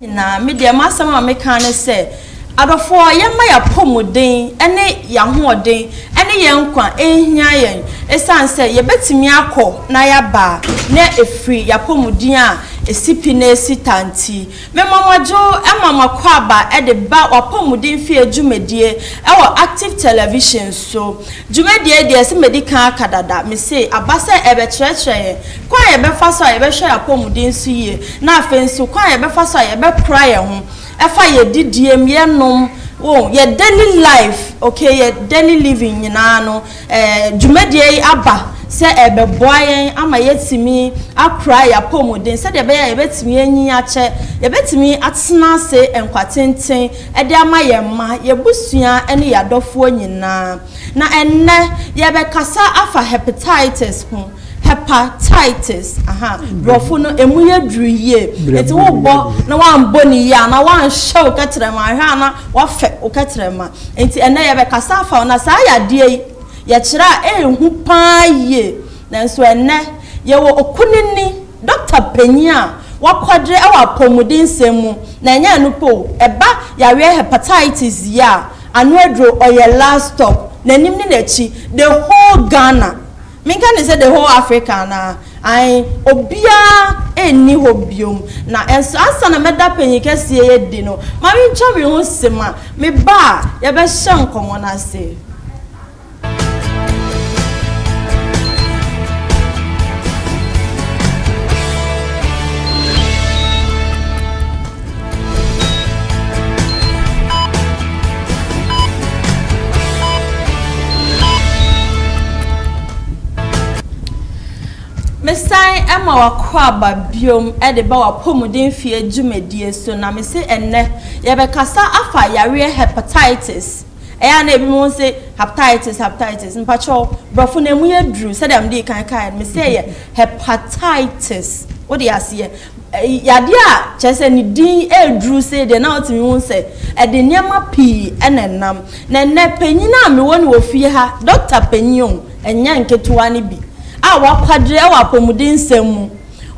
nyinaa, me deɛ m'asɛm a meka ne sɛ adɔfoɔ yɛmma yɛapɔmuden ne yɛahoɔden ne yɛn nkwa nhia yɛn ɛsiane sɛ yɛbɛtumi akɔ na yɛaba na ɛfiri yɛapɔmuden a ɛsi pi na ɛsi ta nti Mema mo adwo ma mo akwaaba de ba w'apɔmuden fie dwumadie wɔ Active Television so. Dwumadie yi deɛ sɛ madi kan aka dada, mese aba sɛ ɛrebɛkyerɛkyerɛ yɛn kwan a yɛbɛfa so a yɛbɛhwɛ yɛn apɔmuden so yie na afei nso kwan a yɛbɛfa so a yɛbɛkora yɛn ho ɛfa yɛn didiem, yɛn nom, wo yɛn daily life, okay, yɛn daily living nyinaa no Dwumadie yi aba sɛ ɛrebɛboa yɛn ama yɛatumi akora yɛn apɔmuden sɛdeɛ ɛbɛyɛ a yɛbɛtumi anyin akyɛ, yɛbɛtumi atena ase nkwa tenten de ama yɛn mma, yɛn abusua ne yɛn adɔfoɔ nyinaa. Na ɛnnɛ, yɛrebɛkasa afa hepatitis ho. Hepatitis, aha, brɔfo no, emu yɛ duru yie. Nti wobɔ na wambɔ ne yie anaa wanhyɛ wo kɛtrɛma, ahwɛ a na wafɛ wo kɛtrɛma. Nti ɛnnɛ yɛbɛkasa afa ho, na saa yadeɛ yi, yɛkyerɛ a ɛɛhu paa yie. Nanso ɛnnɛ, yɛwɔ okunini, dɔkta panyin a wakwagye wɔ apɔmudensɛm mu, na ɛnyɛ ɛno pɛ o, ɛba yareɛ hepatitis yi a, ano aduro, ɔyɛ last stop, n'anim ne n'akyi, the whole Ghana. Menka no sɛ the whole Africa anaa? Ae, obiara nni hɔ bio. Na nso ansa na mɛda panyin kɛseɛ yi adi no, mamentwa me ho se ma me ba a yɛbɛhyɛ nkɔmmɔ no ase. Mesan ma w'akwaaba bio de ba w'apɔmuden-fie dwumadie so na me se ɛnnɛ yɛbɛkasa afa yareɛ hepatitis. Ɛyɛ a na ebi mo se hepatitis hepatitis mpakyɛw brɔfo no emu yɛ duru sɛdeɛ me dii kan kaeɛ no me se ɛyɛ hepatitis wode aseɛ. Yadeɛ a kyerɛ sɛ ne din reduru sei deɛ, na wotumi hu sɛ ɛde nneɛma pii na ɛnam. Na ɛnnɛ, panyin a mewɔ no wɔ fie ha, dɔkta panyin o, ɛnyɛ nketewa no bi, a wakwadare wɔ apɔmudensɛm mu.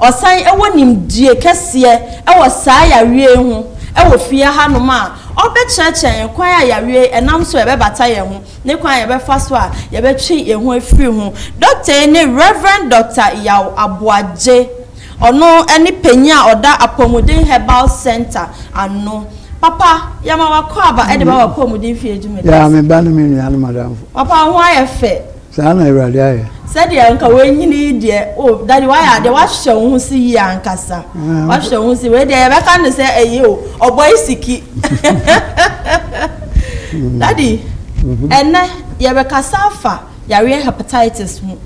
Ɔsan wɔ nimdeɛ kɛseɛ wɔ saa yareɛ yi ho wɔ fie hanom a ɔrebɛkyerɛkyerɛ yɛn kwan a yareɛ yi ɛnam so a ɛbɛbata yɛn ho, ne kwan a yɛbɛfa so a yɛbɛtwe yɛn ho afiri ho. Dɔkta yi ne Rev. Dɔkta Yaw Aboagye Ɔno ne panyin a ɔda Apɔmuden Herbal Centre ano. Papa, yɛma w'akwaaba de ba w'apɔmuden fie adwuma no ase. Yaa, me ba ne me nuanom adamfo. Papa, wo ho ayɛ fɛ. Saa na Awurade ayɛ. Sɛdeɛ anka wanyini yi deɛ, o, Daddy, woayɛ adeɛ, woahwehwɛ wo ho so yie ankasa. Woahwehwɛ wo ho so, wei deɛ yɛbɛka no sɛ ɛyɛ o, ɔbɔe siki. Daddy, ɛnnɛ yɛbɛkasa afa. Yareɛ hepatitis ho.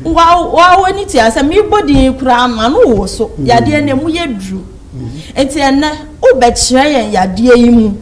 Woa w'ani tua sɛ mebɔ din yi koraa no m'ano woso. Yadeɛ no ɛmu yɛ duru. Nti ɛnnɛ wobɛkyerɛ yɛn yadeɛ yi mu.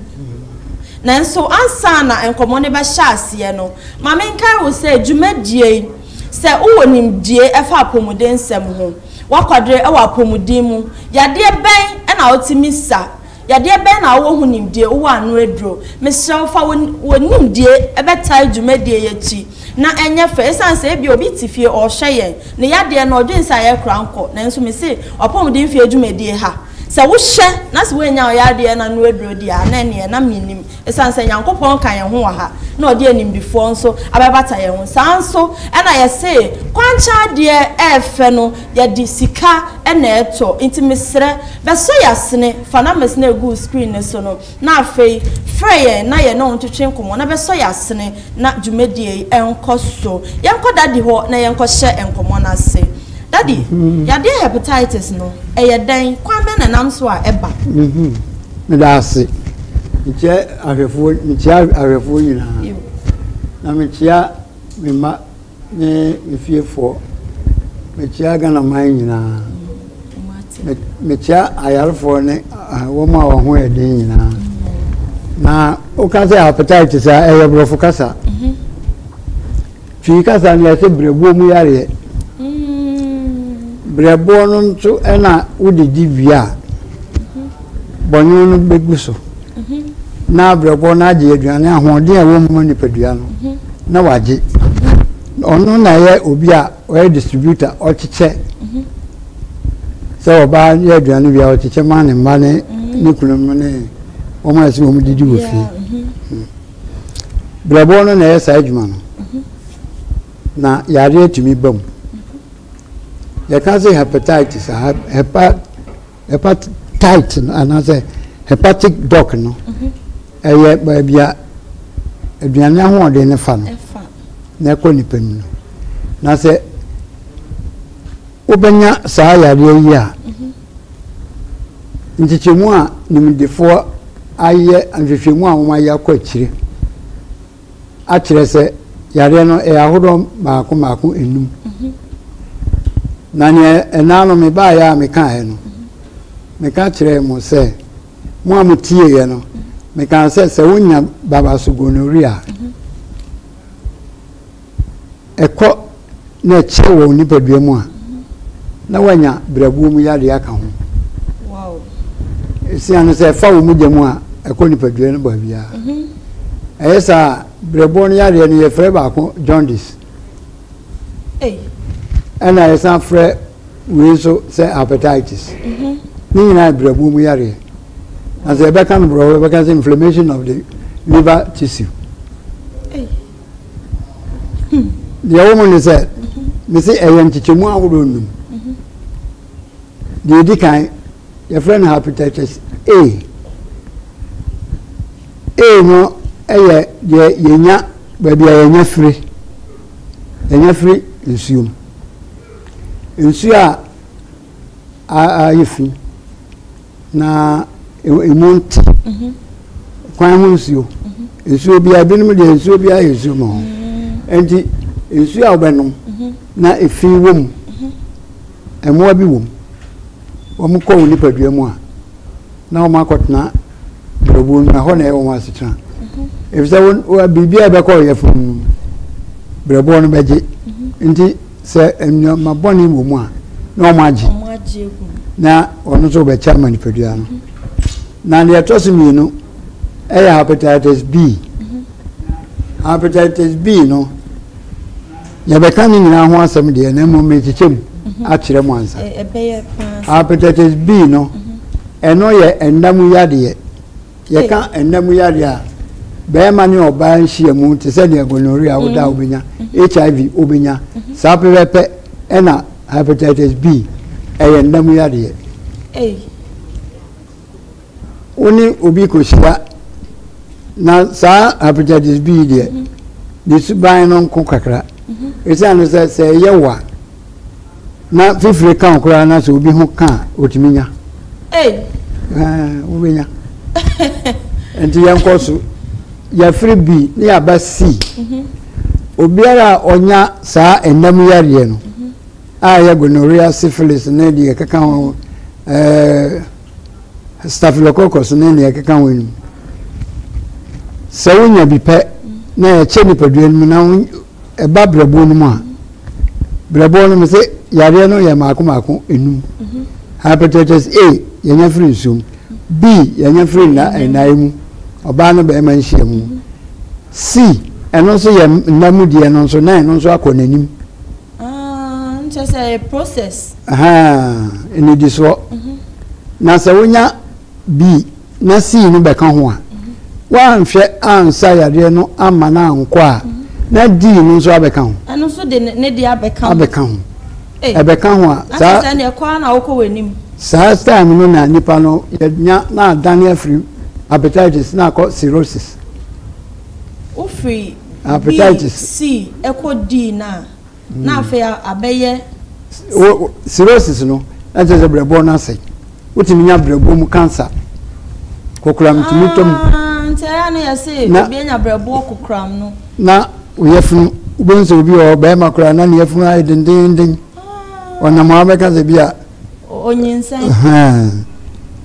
Nanso ansa na nkɔmmɔ no bɛhyɛ aseɛ no, ma menkae wo sɛ dwumadie yi, sɛ wowɔ nimdie ɛfa apɔmuden nsɛm ho, woakwadere wɔ apɔmuden mu, yadeɛ bɛn na wotumi sa? Yadeɛ bɛn na wowɔ ho nimdie? Wowɔ ano aduro? Mesrɛ wo fa wo wo nimdie bɛtae dwumadie yi akyi na ɛnyɛ fɛ ɛsiane sɛ ebia obi te fie ɔrehwɛ yɛn ne yadeɛ no ɔdwene sɛ ayɛ kora nkɔ nanso mese ɔpɔmuden fie dwumadie ha sɛ wohyɛ na sɛ woannya wo yadeɛ no ano aduro deɛ a na ɛneɛ na mennim Esiane sɛ Nyankopɔn ka yɛn ho wɔ ha na ɔde animdefoɔ nso abɛbata yɛn ho, saa ara nso na yɛse kwankyɛn adeɛ ɛyɛ fɛ no yɛde sika na ɛtɔ. Nti mesrɛ bɛsɔ y'asene, fa numbers no a ɛgu wo screen no so no na afei frɛ yɛn na yɛne wo ntwetwe nkɔmmɔ na bɛsɔ y'asene. na dwumadie yi nkɔ so. Yɛnkɔ daddy hɔ na yɛnkɔ hyɛ nkɔmɔ no ase. Daddy, yadeɛ hepatitis no, ɛyɛ dɛn? Kwan bɛn na ɛnam so a ɛba? Meda ase. Mekyia ahwɛfoɔ, mekyia ahwɛfoɔ nyinaa. Na mekyia me mma Ne ne fiefoɔ. Mekyea Ghana man nyinaa. Mekyea ayarefoɔ ne wɔn a wɔn ho yɛ den nyinaa. Na woka sɛ hepatitis a ɛyɛ borɔfo kasa. Mhm. Twi kasa no yɛsɛ berɛboɔ mu yareɛ. Mm. Berɛboɔ no nso ɛna wode di wie a. Bɔnwoma no bɛgu so, na abrɛbɔ no agye aduane ahoɔden a ɛwɔ mu ma nipadua no, na wagye. Ɔno na ɛyɛ obi a ɔyɛ distributor, ɔkyekyɛ sɛ ɔbaa yɛ aduane wie a ɔkyekyɛ ma ne mma ne ne kununom ne wɔn a ɛsɛ wɔn didi wɔ fie. Brɛbɔ no na ɛyɛ saa adwuma no, na yadeɛ tumi ba mu. Yɛka sɛ hepatitis a, hepa Hepatite no anaasɛ hepatic duct no ɛyɛ baabi a aduane ahoɔden no fa no na ɛkɔ nipa mu no na sɛ wobɛnya saa yareɛ yi a nkyekyɛmu a nimdefoɔ ayɛ nhwehwɛmu a wɔayɛ akɔ akyire akyerɛ sɛ yareɛ no ɛyɛ ahodoɔ mmaako mmaako enum na neɛ ɛnaa no mebaeɛ a mekaaeɛ no meka kyerɛɛ mo sɛ mo a motieeɛ no mekaa sɛ sɛ wonya baba so gonorrhea ɛkɔ na ɛkyɛ wɔ wo nipadua mu a, na woanya berɛboɔ mu yadeɛ aka ho. Ɛsia no, sɛ ɛfa wo mogya mu a, ɛkɔ nipadua no baabiara. Ɛyɛ saa a, berɛboɔ no yadeɛ no yɛfrɛ baako jaundice. Ɛna yɛsan frɛ wei nso sɛ hepatitis. Ne nyinaa yɛ berɛboɔ mu yadeɛ. Na sɛ yɛbɛka no borɔfo yɛbɛka sɛ inflammation of the liver tissue. deɛ ɛwɔ mu ne sɛ me se ɛyɛ nkyekyɛmu ahodoɔ nnum deɛ ɛdi kan yɛfrɛ no hepatitis a a no yɛ deɛ yɛnya baabi a yɛnya firi yɛnya firi nsuo mu nsuo a ayɛ fi Na emu nte. Mhm. Kwan ho nsuo. Mhm. Nsuo biara binom deɛ nsuo biara yɛ nsuo ma ho. Mhm. Nti nsuo a wobɛnom na efi wɔ mu. Mmoa bi wɔ mu. Wɔn kɔ wo nipadua mu a na wɔn akɔtena brɛbuo no ɛhɔ na ɛyɛ wɔn asetena. Efisɛ biribi a ɛbɛkɔ ɔyɛfunu no brɛboɔ no bɛgye. Nti Sɛ nneɛma bɔne wɔ mu a, na wɔagye, na wɔn nso wɔbɛkyɛ ama nipadua no. Na deɛ ɛtɔ so mmienu yɛ hepatitis B. Hepatitis B no, yɛbɛka ne nyinaa ho asɛm deɛ, na mmom merekyekyɛ mu akyerɛ mu ansa. Hepatitis B no, ɛno yɛ nna mu yadeɛ Yɛka nna mu yareɛ a, bɛrima ne ɔbaa nhyiam te sɛ deɛ gonorrhea a woda a wobɛnya, HIV wobɛnya, saa pɛpɛpɛ ɛna hepatitis B ɛyɛ nna mu yareɛ. Wo ne obi kɔhyia na saa hepatitis B deɛ ne suban no nko kakra ɛsiane sɛ sɛ ɛyɛ wo a Na fifire ka wo koraa na sɛ obi ho ka a, otumi nya. Ei. Ɛɛ, wobɛnya. Nti yɛnkɔ so. Yɛfiri bi ne yɛaba si. Mhm. Obiara a ɔnya saa ɛnam yareɛ no mhm. a ɛyɛ gonorrhea, syphilis ne deɛ ɛkeka ho mhm. ɛɛ staphylococcus ne deɛ ɛkeka ho nom. Sɛ wonya bi pɛ na ɛkyɛ nipadua no mu na Ɛba brɛboɔ no mu a, brɛboɔ no mesɛ yareɛ no yɛ mmaako mmaako enum. Mhm. Hepatitis A yɛnya firi nsuom, B yɛnya firi nnaeɛ mu, ɔbaa ne barima nhyia mu. Mhm. C ɛno nso yɛ nna mu deɛ no nso na ɛno nso akɔ n'anim. Ah, nkyɛ sɛ ɛyɛ process. Ɛnidi soɔ. Mhm. Na sɛ wonya B na sii no bɛka ho a, wanhwɛ ansa yareɛ no amma no ankɔ a, na dii no nso abɛka ho. Ɛno nso de ne deɛ abɛka ho. Abɛka ho. Ɛbɛka ho a, saa. Ɛkyɛ sɛ ɛnna ɛkɔ ara na wokɔ w'anim. Saa time no na nipa no yɛnya na adane afiri hepatitis na akɔ cirrhosis. Wofiri B, C ɛkɔ D na. na afei abɛyɛ. cirrhosis no na kyerɛ sɛ brɛbɔ no asɛe wotumi nya brɛbɔ mu cancer kokoram tumi tɔ mu. Ah, nti ɛyɛ no yɛ se obi anya brɛboɔ kokoram no. na oyɛ funu wobɛhu sɛ obi wɔ bɛrima koraa na ne yɛfunu ayɛ dendenden ah. ɔnam a wobɛka sɛ bi a onyinsɛn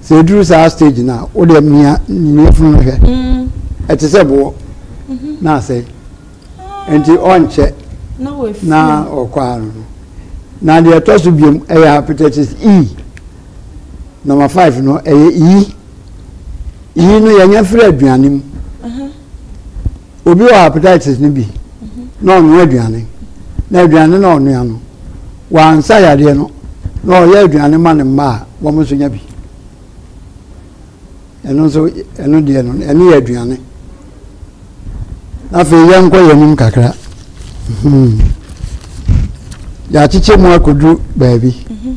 sɛ ɛduru saa stage no a wode mia ne yɛfunu no hwɛ mm. ɛte sɛ boɔ mm-hmm. na asɛe nti ɔnkyɛ na ɔkɔ ano no na deɛ ɛtɔ so biom ɛyɛ hepatitis e number five no ɛyɛ iyi iyi no yɛnya firi aduane mu obi wɔ hepatitis no bi na ɔnoa aduane na aduane na ɔnoa no wansa yadeɛ no na ɔyɛ aduane ma ne mma a wɔn nso nya bi. Ɛno nso, ɛno deɛ no, ɛno yɛ aduane. Afei yɛnkɔ yɛn anim kakra. Hmm. Yɛakyekyɛ mu akɔduru baabi. Mhm.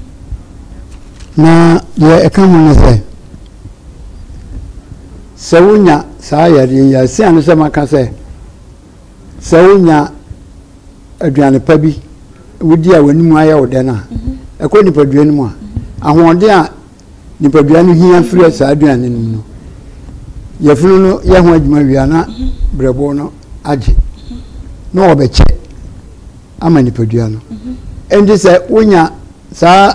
Na deɛ ɛka ho ne sɛ, sɛ wonya saa yadeɛ yi a, ɛsia ne sɛ maka sɛ, sɛ wonya aduane pa bi wodi a w'anim ayɛ wo dɛ no a, mhm. ɛkɔ nipadua no mu a, mhm. ahoɔden a nipadua no hia frɛ saa aduane nom no yɛfunu no yɛ ho adwuma wia na brɛboɔ no agye na wɔbɛkyɛ ama nipadua no ɛnti sɛ wonya saa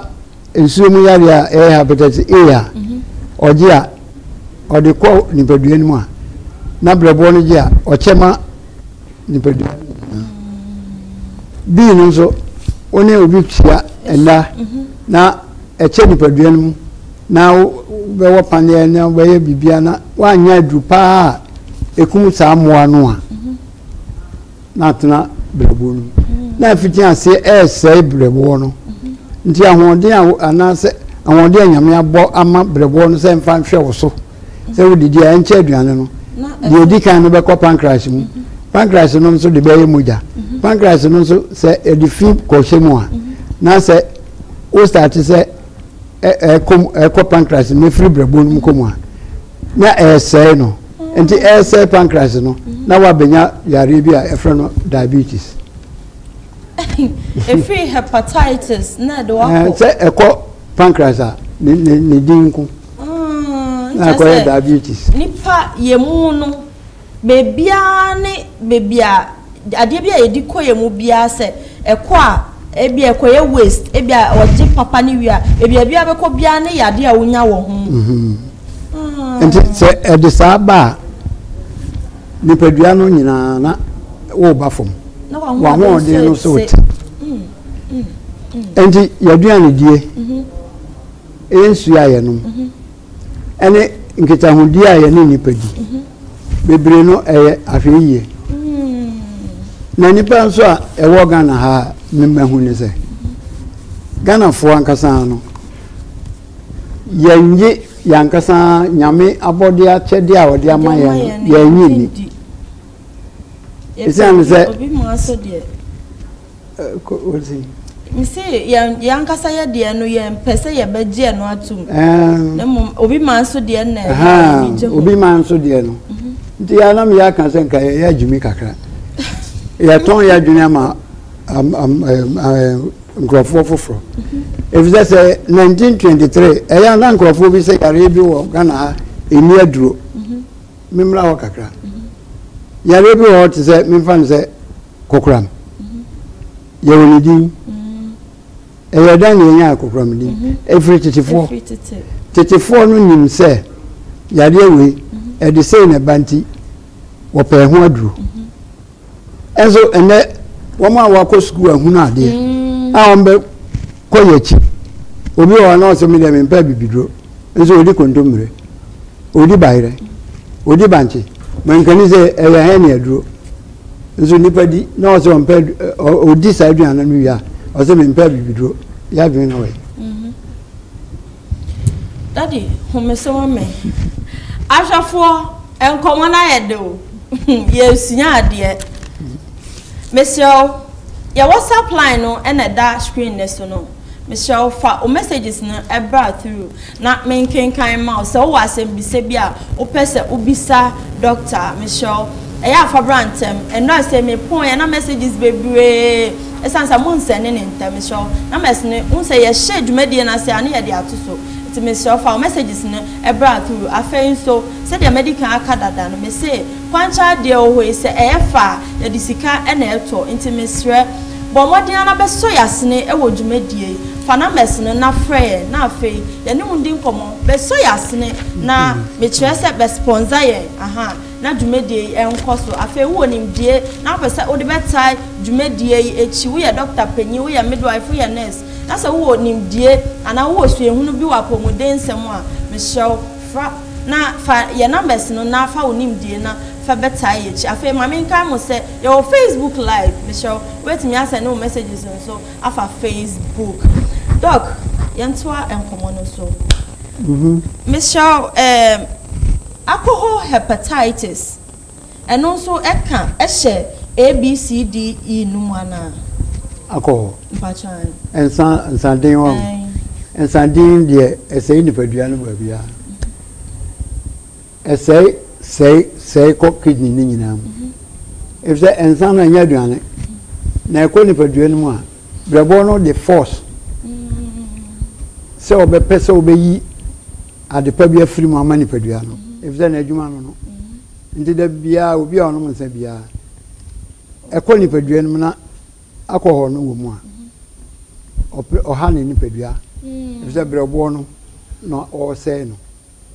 nsuo mu yareɛ a ɛyɛ hepatitis A a ɔgye a ɔde kɔ nipadua no mu a na brɛboɔ no gye a ɔkyɛ ma nipadua no nyinaa. Bii no nso, wo ne obi tua nna na ɛkyɛ nipadua no mu na wobɛwɔ paneɛ na wobɛyɛ biribia na woanyɛ aduru paa a ɛkum saa mmoa no a na atena berɛboɔ no mu na afiti aseɛ ɛresɛe berɛboɔ no nti ahoɔden a anaasɛ ahoɔden a nyame abɔ ama berɛboɔ no sɛ mfa nhwɛ wo so sɛ wodidi a ɛnkyɛ aduane no deɛ ɛdi kan no bɛkɔ pancreas mu mhm. pancreas no nso de bɛyɛ mogya mhm. pancreas no nso sɛ ɛde fi kɔhyɛ mu a mhm. na sɛ wo start sɛ ɛkɔ ɛkɔ pancreas no efiri brɛbo no mu kɔ mu a na ɛresɛe no ah. nti ɛresɛe pancreas no na wabɛnya yareɛ bi a ɛfrɛ no diabetes. efiri hepatitis na ɛde wakɔ. sɛ ɛkɔ pancreas a ne ne ne din nko. Mm, na akɔyɛ diabetes. Nipa yɛ mu no, beebiara ne beebi a adeɛ bi a yɛde kɔ yɛ mu biara sɛ ɛkɔ a ebi a ɛkɔyɛ waste ebi a ɔgye papa ne wie a ebi a ebi a bɛkɔ biara ne yɛ adeɛ a wonya wɔ ho. Mhm. Ah. nti sɛ ɛde saa ba a nipadua no nyinaa na woba fam wahoɔden no so te nti yɛaduane die mhm. Ɛyɛ nsuo a yɛnom ɛne nkitahodie a yɛne nnipa di. Bebree no ɛyɛ ahwɛyie. Na nnipa nso a ɛwɔ Ghana ha a memahu ne sɛ, Ghanafoɔ ankasa no, yɛnnye yɛn ankasa Nyame abɔdeɛ akyɛdeɛ a ɔde ama yɛn no, yɛnnye nni. Ɛsiane sɛ. Kɔ odzi. Mese yɛn yɛn ankasa yɛ deɛ no yɛn pɛ sɛ yɛbɛgye ɛno atum. Na mmom obi maa nso deɛ na yɛn gye ho. Obi maa nso deɛ no. Nti yɛn anam yɛ aka sɛ nka yɛ yɛ agyimi kakra. Yɛtɔn yɛ adwene ama am am ɛɛ nkurɔfoɔ foforɔ. Efisɛ sɛ 1923 ɛyɛ a na nkurɔfoɔ bi sɛ yareɛ bi wɔ Ghana ha ɛnni aduro. Memmra hɔ kakra. Yareɛ bi wɔ hɔ te sɛ memfa no sɛ. Kokoram. Yɛwɔ ne din. Ɛyɛ dɛn na yɛnyaa kokoram din? Ɛfiri mhm. tetefoɔ. Tetefoɔ no nim sɛ yadeɛ wei mhm. ɛde sei na ɛba nti wɔpɛɛ ho aduro. Mhm. Ɛnso ɛnɛ wɔn a wɔakɔ sukuu ahunu adeɛ mm. a wɔn bɛ kɔ yɛ akyi. Obi wɔ hɔ na ɔsɛ mi deɛ mi mpɛ bibiduro nso odi kontommire odi bayerɛ odi bankye mankani sɛ ɛyɛ hɛn ne aduro. nso nipa di na ɔsɛ ɔmpɛ ɔdi saa aduane no wie a ɔsɛ mempɛ abibiduro yɛ adwene na ɔyɛ mhm. dadi homese wɔ me ahwɛfoɔ nkɔmmɔ no ayɛ de o yɛsua adeɛ mesrɛ wo yɛwɔ supply no ɛna ɛda screen no so no Mesrɛ wo fa wo messages no bra through na menkenkan mma wo. Sɛ wowɔ asɛmbisa bi a wopɛ sɛ wobisa doctor a, mesrɛ wo ɛyɛ a fa bra ntɛm. Ɛnora se mepoeɛ na messages bebree ɛsiane sɛ mo nsɛne no ntɛm. Mesrɛ wo na mɛsene. Wohu sɛ yɛhyɛ dwumadie no ase a na yɛde ato so nti mesrɛ wo fa wo messages no bra through. Afei nso sɛdeɛ madi kan aka dada no mese. Kwankyɛ adeɛ wɔ hɔ yi sɛ ɛyɛ fɛ a yɛde sika na ɛtɔ nti mesrɛ bɔ mmɔden ara na bɛsɔ yɛn asene wɔ dwumadie yi fa numbers no na frɛ yɛn na afei yɛne wo ndi nkɔmmɔ bɛsɔ yɛn asene na mekyerɛ sɛ bɛ sponsor yɛn ahaa na dwumadie yi nkɔ so afei wowɔ nimdie na wopɛ sɛ wode bɛtae dwumadie yi akyi woyɛ dɔkta panin woyɛ midwife woyɛ nurse na sɛ wowɔ nimdie anaa wowɔ suahunu bi wɔ apɔmuden nsɛm a mesrɛ wo fra Na fa yɛn numbers no na fa wo nimdie na fa bɛtae yɛn akyi. Afei ma menkae mo sɛ yɛwɔ Facebook live, mesrɛ wo wobɛtumi asɛnde wo messages nso afa Facebook. Doc, yɛntoa nkɔmmɔ no so. Mesrɛ wo, ɛɛm, alcohol hepatitis. Ɛno nso ɛka ɛhyɛ ABCDE no mu anaa? Akɔ hɔ. Mpakyɛ ae. Nsa nsa den wɔ. Ae. Nsa den deɛ ɛsɛe nipadua no baabiara. Ɛsɛe sɛe sɛe kɔ kidney no nyinaa mu. Efisɛ nsa no ɛnyɛ aduane. Na ɛkɔ nipadua no mu a, brɛboɔ no de force sɛ ɔbɛpɛ sɛ ɔbɛyi Ade pa bi afiri mu ama nipadua no, efisɛ n'adwuma no no. Nti da biara obi a ɔnom nsa biara, ɛkɔ nipadua no mu na alcohol no wɔ mu a, ɔpɛ ɔha ne nipadua, efisɛ brɛboɔ no na ɔresɛe no.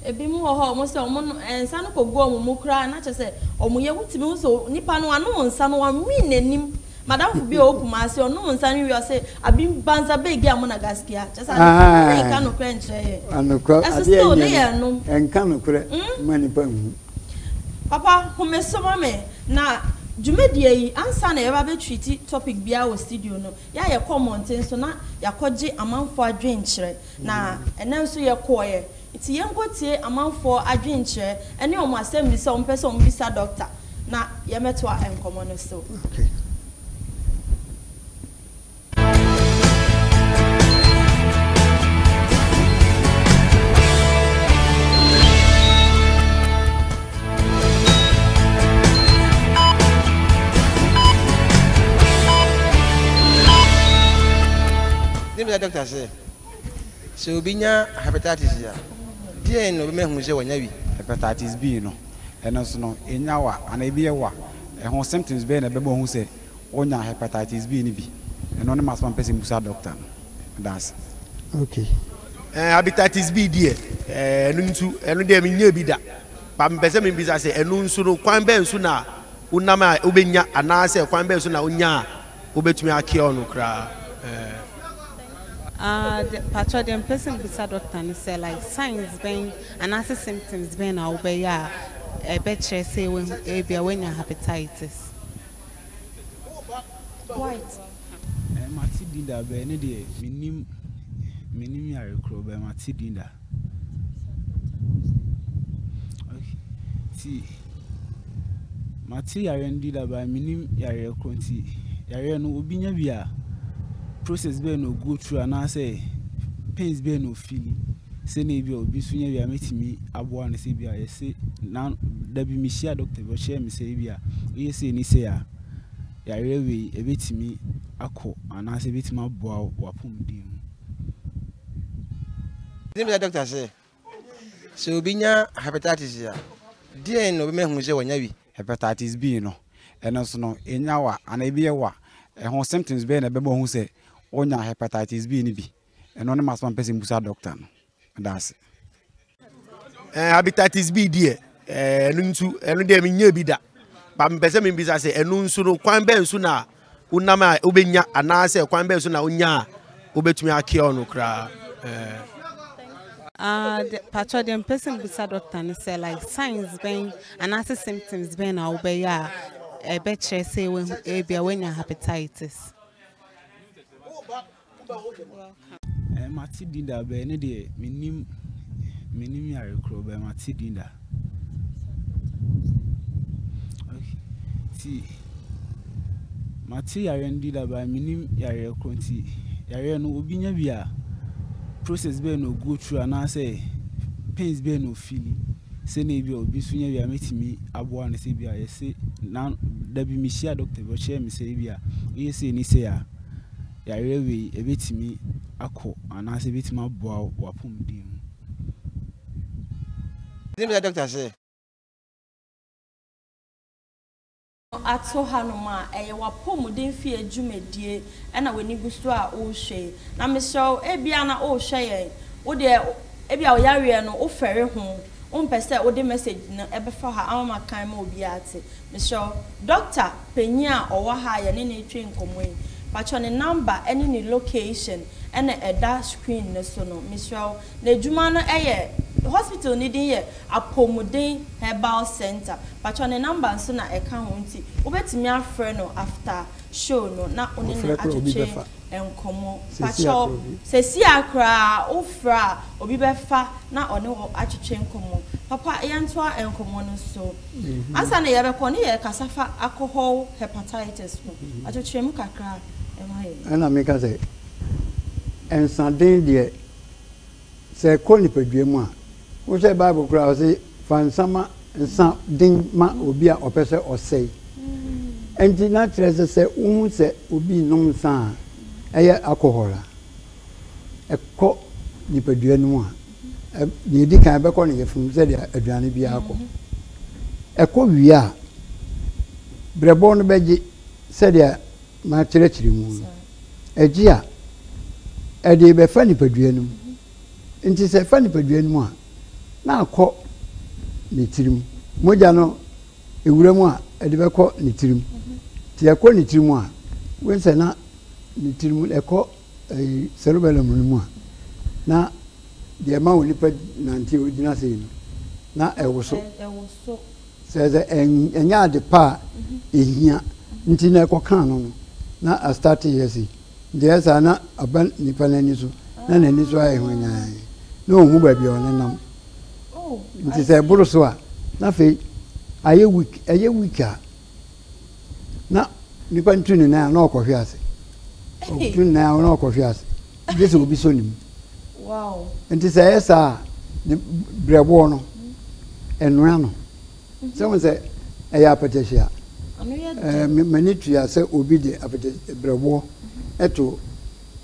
Ebinom wɔ hɔ a wɔn sɛ wɔn nsa no kɔgu wɔn mu koraa na kyerɛ sɛ wɔyɛ wotumi hu sɛ nipa no wanom nsa no wanwin n'anim. Madamfo bi a ɔwɔ Kumasi, ɔnom nsa no wie a ɔse, Abim banza bɛɛ gi amona gaskiya. Kyerɛ sɛ ade korɔ no ne nka nokorɛ nkyerɛ yɛn. Anokorɛ, Ɛso adeɛ still ne nyɛ yɛn nom. no, nka nokorɛ ma nnipa nhu. Papa, home so ma me, na dwumadie yi, ansa na yɛba bɛ treati topic biara wɔ studio no, yɛ a yɛkɔ mmɔnten so na yɛakɔgye amanfoɔ adwenkyerɛ. Na ɛnnɛ nso yɛkɔeɛ. Nti yɛnkɔtie amanfoɔ adwenkyerɛ ɛne wɔn asɛmbisa a wɔn pɛ sɛ wɔn bisa Doctor na yɛmɛtoa nkɔmɔ no so. Okay. Doctor sɛ Sɛ obi nya hepatitis a, deɛn na ɔbɛma ahunu sɛ wanya bi? Hepatitis B no, ɛno nso no, ɛnya wa anaa ɛbi yɛ wa. Ɛho symptoms bɛn na ɛbɛma wahu sɛ wanya hepatitis B no bi? Ɛno ne m'asɛm a mepɛ sɛ mebusa dɔkta no. Meda ase. Ok. Ɛɛ hepatitis B deɛ, ɛɛ ɛno nso, ɛno deɛ menyaa bi da. But mepɛ sɛ mebisa sɛ ɛno nso no, kwan bɛn so na wonam a wobɛnya anaasɛ kwan bɛn so na wonyaa Wobɛtumi akeɛ ɔno koraa eh. Ah de pakyɛw deɛ mepɛ sɛ mebisa doctor ne sɛ like signs bɛn anaasɛ symptoms bɛn na wobɛyɛ a ɛbɛkyerɛ sɛ wahu ebia wanya hepatitis. White. Ɛɛ mate din da bɛɛ ne deɛ mennim mennim yare korɔ bɛɛ mate din da. Ok, nti mate yareɛ no bi da but mennim yareɛ korɔ nti yareɛ no obi nya bi a process bɛn na o go through anaasɛ pains bɛn na o feel sɛdeɛ ebi a obi nso nya bi a mɛtumi aboa no sɛ ebi a yɛse na dabi mehyia doctor bi ɔkyerɛɛ me sɛ ebi a woyɛ sei ne sei a yareɛ wei ɛbɛtumi akɔ anaasɛ ɛbɛtumi aboa wo w'apɔmuden mu. ne bisa dɔkta sɛ sɛ obi nya hepatitis a deɛn na obɛma ahu sɛ wanya bi hepatitis B no ɛno nso no ɛnya wa anaa ebi yɛ wa ɛho symptoms bɛyɛ na ɛbɛma ɔhu sɛ ɔnya hepatitis B no bi ɛno ne masɛm a mpɛ sɛ mbusa dɔkta no. Meda ase. Eh, hepatitis B deɛ, eh, ɛno nso, ɛno deɛ menyɛ bi da. Ba mepɛ sɛ mebisa sɛ ɛno nso no kwan bɛn so na wonam a wobɛnya anaasɛ kwan bɛn so na wonya a wobɛtumi akeɛ ɔno koraa. Eh. Ah, uh, patro deɛ mepɛ sɛ mebisa dɔkta no sɛ like signs bɛn anaasɛ symptoms bɛn na wobɛyɛ a ɛbɛkyerɛ sɛ ebia woanya hepatitis. Mate din da bɛɛ ne deɛ menim menim yare korɔ bɛɛ mate din da nti mate yare no din da bɛɛ menim yare korɔ nti yare no obi nya bi a process bɛɛ na ogo through anaasɛ pains bɛɛ na ofili sɛnea ebi a obi nso nya bi a mɛtumi aboa no sɛ bi a yɛse na dabi mehyia doctor bi ɔkyerɛ me sɛ ebi a woyɛ sɛ ɛni sɛ a yareɛ wei ɛbɛtumi akɔ anaasɛ ɛbɛtumi aboa wo w'apɔmuden mu. Ɛtumi bisa dɔkta sɛ. ato hanom a, ɛyɛ w'apɔmuden fie dwumadie na w'ani gu so a worehwɛ yi. Na mesrɛ wo, ebia na worehwɛ yɛn, wo deɛ ebia wo yareɛ no wofɛre ho. Wompɛ sɛ wode message no bɛfa hɔ a ama makan ma obiara ate? Mesrɛ wo. Doctor panyin a ɔwɔ ha a yɛne no retwe nkɔmmɔ yi, pakyɛ ne number ne ne location na ɛda screen no so no. Mesrɛ wo. N'adwuma no yɛ, hospital no din yɛ Apomuden Herbal Centre. Pakyɛ ne number nso na ɛka ho nti wobɛtumi afrɛ no after show no na wo ne no atwetwe. nkɔmmɔ. Pakyɛw, seesei ara koraa wofrɛ a, obi bɛfa na ɔne wo atwetwe nkɔmmɔ. Papa, yɛntoa nkɔmmɔ no so. Ansa na yɛrebɛkɔ no, yɛrekasa fa akɔhɔw hepatitis ho. Ɔkyekyere mu kakra ma yɛn. Ɛnna meka sɛ, Nsaden deɛ, sɛ ɛkɔ nipadua mu a, Wohwɛ Bible koraa a, ɔse fa nsa ma nsa den ma obi a ɔpɛ sɛ ɔsɛe. Ɛnti na kyerɛ sɛ sɛ wohu sɛ obi renom nsa a ɛyɛ alcohol a ɛkɔ nipadua no mu a, deɛ ɛdi kan ɛbɛkɔ ne yafunu sɛdeɛ aduane biara kɔ. Ɛkɔ wie a, brɛbɔ no bɛgye sɛdeɛ makyerɛkyerɛ mu no. Ɛgye a, ɛde bɛfa nipadua no mu. Enti sɛ ɛfa nipadua no mu a, na akɔ ne tirim. Mogya no, ewura mu a, ɛde bɛkɔ ne tirim. Nti ɛkɔ ne tirim a, wobɛhu sɛ na ne tirim ɛkɔ ɛyi cerebellum no mu a, na deɛ ɛma onipa nante a ogyina sei no, na ɛwoso. Sɛ sɛ ɛnyɛ ade pa a ehia nti na ɛkɔkaa no no, na astate yɛ sei. Enti ɛyɛ saa na aba nipa no ani so na n'ani so ayɛ hwanyann na ɔnhu baabi a ɔnenam. Nti sɛ ɛboro so a na afei ayɛ weak, ɛyɛ weak a na nipa no tu ne nan a na ɔkɔhwe ase. Ɔtu ne nan a na ɔkɔhwe ase gye sɛ obi sɔ ne mu. Nti sɛ ɛyɛ saa a ne brɛboɔ no ɛnoa no. Sɛ wohu sɛ ɛyɛ apɛtɛhye a, m'ani tua sɛ obi de berɛboɔ to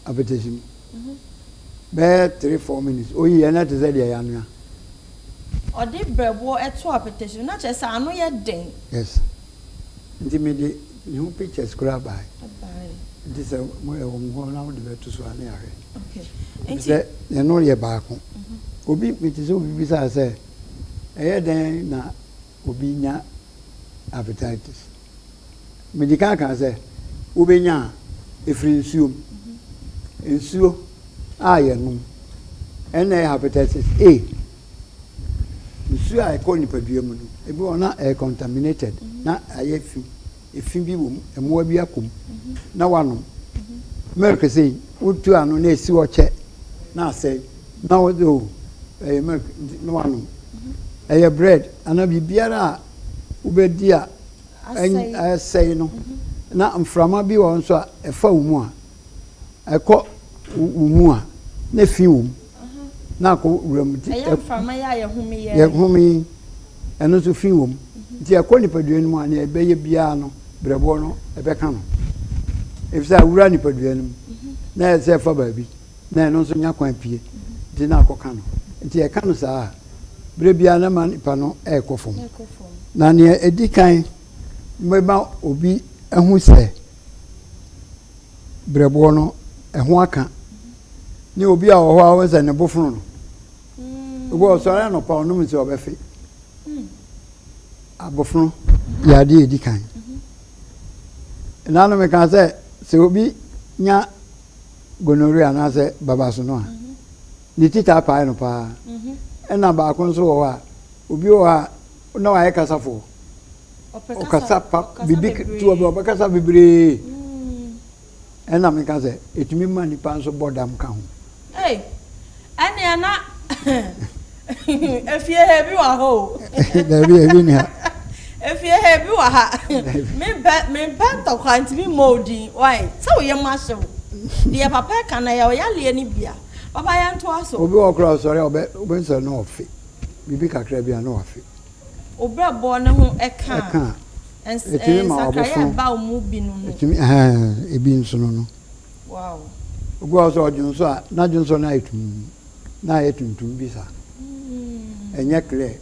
apɛtɛhye mu bɛyɛ three four minutes, ɔyi a na ɛte sɛ deɛ yɛanoa. Ɔde berɛboɔ to apɛtɛhye mu, na kyerɛ sɛ ano yɛ den. Yes, nti mede ne ho pictures koraa baeɛ, nti sɛ ɛwɔ mo hɔ na wode bɛto so a na yɛahwɛ, ɛfiri sɛ yɛne wo yɛ baako. Obi, mete sɛ obi bisaa sɛ. ɛyɛ dɛn na obi nya appetitis? Mede kan kaa sɛ wobɛnya a, ɛfiri nsuo mu. Nsuo a yɛnom, ɛna ɛyɛ hepatitis A. Nsuo a ɛkɔ nipadua mu no, ebi wɔ na ɛyɛ contaminated, na ayɛ fi. efi bi wom, mmoa bi akɔ mu na wanom milk sei, wotu ano na esi hɔ kyɛ na asɛe na wode o ɛyɛ milk nti na wanom. Ɛyɛ bread anaa biribiara a wobɛdi a asɛe no na mframa bi wɔ hɔ nso a ɛfa wo mu a ɛkɔ wo mu a na efi wom. na akɔ wuram nti ɛyɛ mframa yi a yɛhome yɛ yɛhome yi ɛno nso fi wɔ mu nti ɛkɔ nipadua no mu a nea ɛbɛyɛ biara no brɛboɔ no ɛbɛka no efisɛ awura nipadua no mu na ɛyɛ sɛ ɛfa baabi na ɛno nso nya kwan pie nti na akɔka no nti ɛka no saa a berɛ biara na ma nipa no ɛrekɔ fam na nea ɛdi kan bɛma obi ahu sɛ berɛboɔ no ho aka ne obi a ɔwɔ hɔ a wɔn sɛ ne bo fono no obi a ɔsɔre anɔpa ɔnom nsuo ɔbɛfe abofono yɛ adeɛ edi kan ɛnanom mm-hmm. kan sɛ sɛ obi nya gonorrhea anaasɛ babaso no a mm-hmm. ne ti taa pae no paa ɛna mm-hmm. baako nso wɔ hɔ a obi wɔ hɔ a na wayɛ kasafoɔ ɔkasa pa biribi ketewa bi ɔbɛkasa bebree ɛna meka sɛ ɛtumi ma nipa nso bɔ dam ka ho ɛnea na efie ha bi wɔ hɔ o dabi ebi ni ha efie ha bi wɔ ha mempɛ mempɛ ntɔkwa ntumi mmɔ odin wae sɛ woyɛ mu ahyew deɛ papa ɛka na yɛ ɔyaleɛ no bia papa yɛntoa so obi wɔ kora ɔsɔre a ɔbɛ nsɔre na ɔfe biribi kakra bi a, na wafe. O brɛboɔ no ho ɛka a, ɛns ɛɛ nsakraeɛ a ɛba wo mu bi no no. Ɛtumi ɛhɛɛn ebi nso no no. Wow. Obi wɔ hɔ sɛ ɔdwo nso a, n'adwo nso no ayɛ tumm, na ayɛ tuntum bi saa. Mm. Ɛnyɛ clear.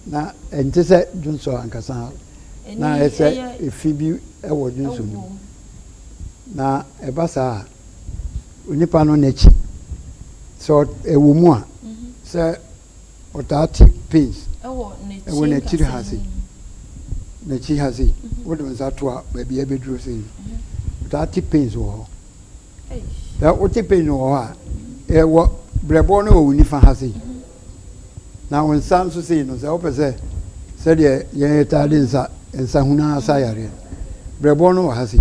Na ɛnte sɛ dwonsɔ ankasa a, na ayɛ sɛ efi bi ɛwɔ dwonsɔ no mu. Na ɛba saa a. onipa no n'akyi sɛ ɛwɔ mu a sɛ ɔtaa te pains ɛwɔ n'akyiri ha sei n'akyi ha sei wode wo nsa to a baabi ɛbɛduro sei no ɔtaa te pains wɔ hɔ sɛ wote pains wɔ hɔ a ɛwɔ brɛbɔɔ no wɔ wo nifa ha sei na wo nsa nso sei no sɛ wopɛ sɛ sɛdeɛ yɛtaa de nsa nsa hunu asa yareɛ no brɛbɔɔ no wɔ ha sei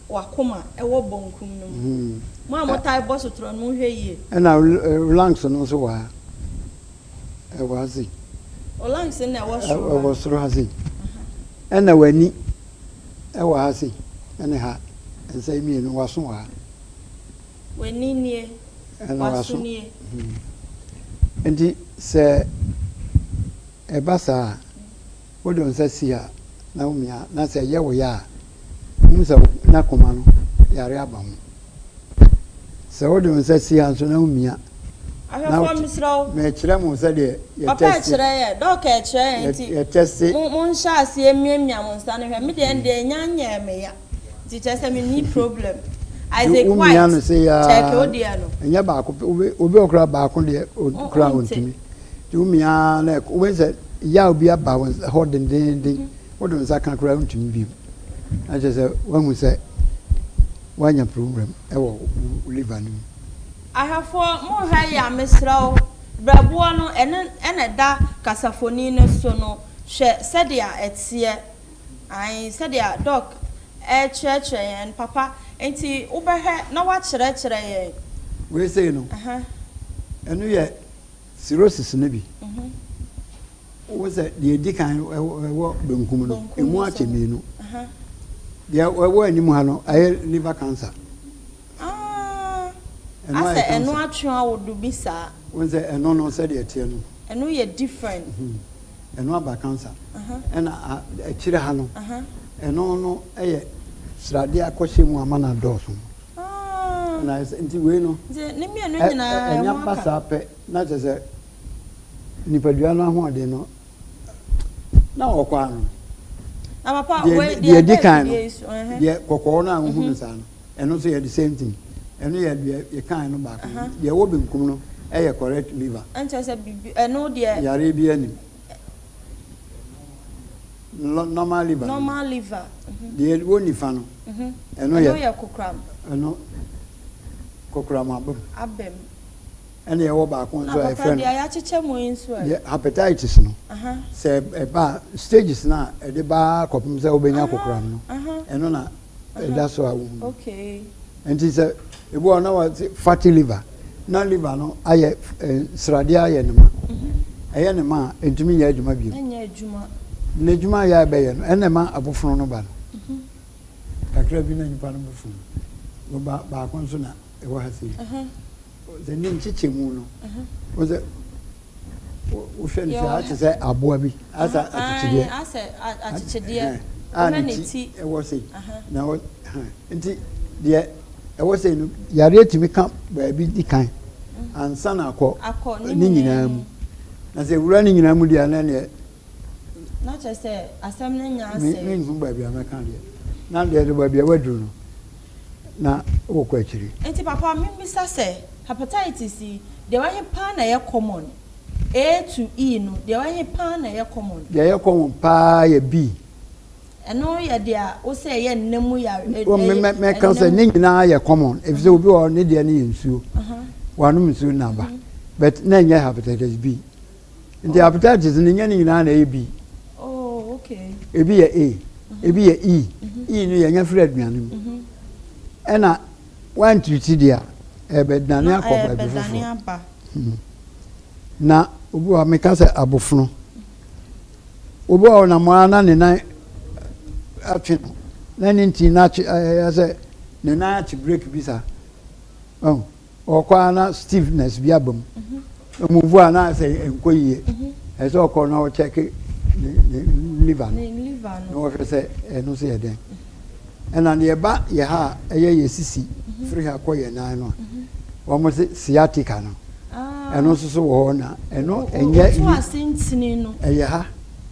w'akoma wɔ bɔnkum no mu. Mo a motae bɔ sotorɔ no, monhwɛ yie. Ɛna Olangs no nso wɔ ha, ɛwɔ ha sei. Olangs no na ɛwɔ soro ha. Ɛwɔ soro ha sei. Ɛna w'ani wɔ ha sei, ɛne ha, nsa yi mmienu, w'aso wɔ ha. W'ani nie, w'aso nie. Nti sɛ ɛba saa a, Wode wo nsa si a na womia na sɛ ɛyɛ wo ya a, hu sɛ n'akoma no yare aba ho. Sɛ wode wo nsa si a nso na womia na wote. Mekyerɛ mo sɛdeɛ yɛtɛste. Yɛtɛste. Nti wo mia no sei aa ɛnyɛ baako pɛ obi wɔ koraa baako deɛ koraa ɔntumi nti wo mia na ɛkɔ wobɛhu sɛ yaw bi aba wo hɔ dendeenden wode wo nsa ka koraa wontumi bio na kyerɛ sɛ woahu sɛ woanya problem ɛwɔ wo liver no mu. Ahwɛfoɔ monha yi a mesrɛ wo berɛboɔ no ɛne ɛna ɛda kasafoni no so no hwɛ sɛdeɛ ɛteɛ. Ae, sɛdeɛ Doc rekyerɛkyerɛ yɛn no, papa, enti wobɛhwɛ na woakyerɛkyerɛ yɛn. Wei sei no, ɛno yɛ cirrhosis no bi. Wohu sɛ deɛ ɛdi kan no, ɛwɔ benkum no, ɛmu akyɛ mmienu. Deɛ ɛwɔ anim ha no, ɛyɛ liver cancer. Aah asɛ ɛno atwea wo do bi saa. Wohu sɛ ɛno no sɛdeɛ ɛteɛ no. Ɛno yɛ different. Ɛno aba cancer. Ɛna akyire ha no. Ɛno no yɛ sradeɛ akɔhyɛ mu ama no adɔɔso. Aah. Nti wei no. Nti ne mmienu nyinaa ɛho aka. Ɛnya ba saa pɛ na kyerɛ sɛ nipadua no ahoɔden no na ɔkɔ ano. Na papa wei deɛ ɛda afidie yi so. Deɛ kɔkɔɔ no a wohu no saa no. Ɛno nso yɛ the same thing. Ɛno yɛ deɛ yɛkaeɛ no baako. Deɛ ɛwɔ benkum no yɛ correct liver. Ɛnkyerɛ sɛ biribi, ɛno deɛ. Yareɛ biara nnim. Normal liver no. Normal liver. Deɛ ɛwɔ nifa no, ɛno yɛ. Ɛno yɛ kokoram. Ɛno, kokoram abam. Abam. Ɛna yɛwɔ baako nso a yɛfrɛ no. Na papa deɛ yɛakyekyɛ mu yi nso ɛ? Deɛ hepatitis no, sɛ ɛba a, stages no a ɛde ba ara kɔpem sɛ wobɛnya kokoram no, ɛno na. ɛda so a wɔwu. Nti sɛ ebi wɔ na wɔte fatty liver na liver no ayɛ eh, sradeɛ ayɛ ne ma mhm. ɛyɛ ne ma a ntumi nyɛ adwuma bio na adwuma yɛ ɛbɛyɛ no ɛna ma abofono no ba no mhm. kakra bi na nipa no bofono no ba baako nso na ɛwɔ ha sei sɛ ne nkyekyɛ mu no wɔsɛ Wohwɛ no sɛ ate sɛ aboa bi asɛ akyekyedeɛ. Asɛ akyekyedeɛ. Wohwɛ ne ti. Ɛwɔ sei. Na ɛwɔ nti deɛ ɛwɔ sei no yareɛ tumi ka baabi di kan ansa na akɔ ne nyinaa mu. Na sɛ wura ne nyinaa mu deɛ na deɛ. Na kyerɛ sɛ asɛm no nya asɛ. Menhu baabi a mɛka deɛ. Na deɛ de baabi a waduru no. na wokɔ akyiri. Nti papa me bisa sɛ hepatitis yi deɛ wɔ he paa na ɛyɛ common? A to E no deɛ wɔ he paa na ɛyɛ common? Deɛ ɛyɛ common paa yɛ B. Ɛno yɛ dea wo sɛ ɛyɛ nna mu yare ɛ ɛ ɛyɛ. Mɛka sɛ ne nyinaa yɛ common efisɛ obi wɔ hɔ ne deɛ no yɛ nsuo, wanom nsuo na aba but na ɛnyɛ hepatitis B. Nti appetites no nyɛ ne nyinaa na ɛyɛ B. Oh, okay. Ebi yɛ A, mhm. ebi yɛ E. Mhm. E no yɛnya firi aduane mu. Mhm. Ɛna wantiriti deɛ a, ɛbɛdane akɔ baabi foforɔ. Hmm. Na obi wɔ meka sɛ abofono. Obi wɔ na mo na ne nan atwe no. Na ne nti na atwe ɛyɛ sɛ ne nan ate break bi saa. Oh. Ɔkɔ ara na stiffness bi aba mu. Ɛmuvu a na ayɛ sɛ ɛnkɔ yie. Ɛsɛ sɛ ɔkɔ na ɔkyɛke ne ne liver no na wɔhwɛ sɛ ɛno nso yɛ dɛn. Ɛna deɛ ɛba yɛ ha a ɛyɛ yɛ sisi firi ha kɔ yɛ nan no a wɔn se sciatica no ɛno nso so wɔ hɔ na ɛno ɛnyɛ yi ɛyɛ ha.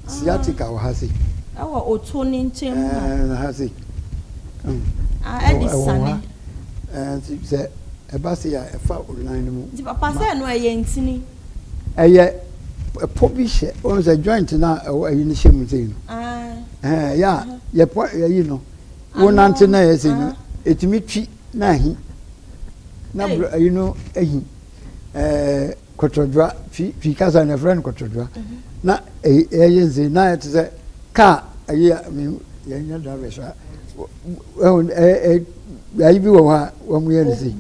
Sciatica wɔ ha sei. Ɛwɔ oto ne nkyɛn mu ha. Ɛɛ ha sei. Ah, ɛde sane. Ɛɛ nti sɛ ɛba sei a ɛfa olunan no mu. Nti papa sɛ ɛno ɛyɛ ntini. Ɛyɛ ɛpɔ bi hyɛ wɔn sɛ joint na ɛwɔ ɛyi ne hyɛ mu sei no. Ɛɛ yɛ a yɛpɔ ɛyi no wonante na ɛyɛ sei no etumi twi na ahi na ɛyi no ahi ɛɛ. Kɔtɔdwa, Twi Twi kasa no yɛfrɛ no kɔtɔdwa. Na ɛyɛ dzen, na ayɛ tse dɛ kaar, ayi a mehu yɛnnyɛ drivers a, woehu ɛɛ beae bi wɔ hɔ a wɔyɛ no dze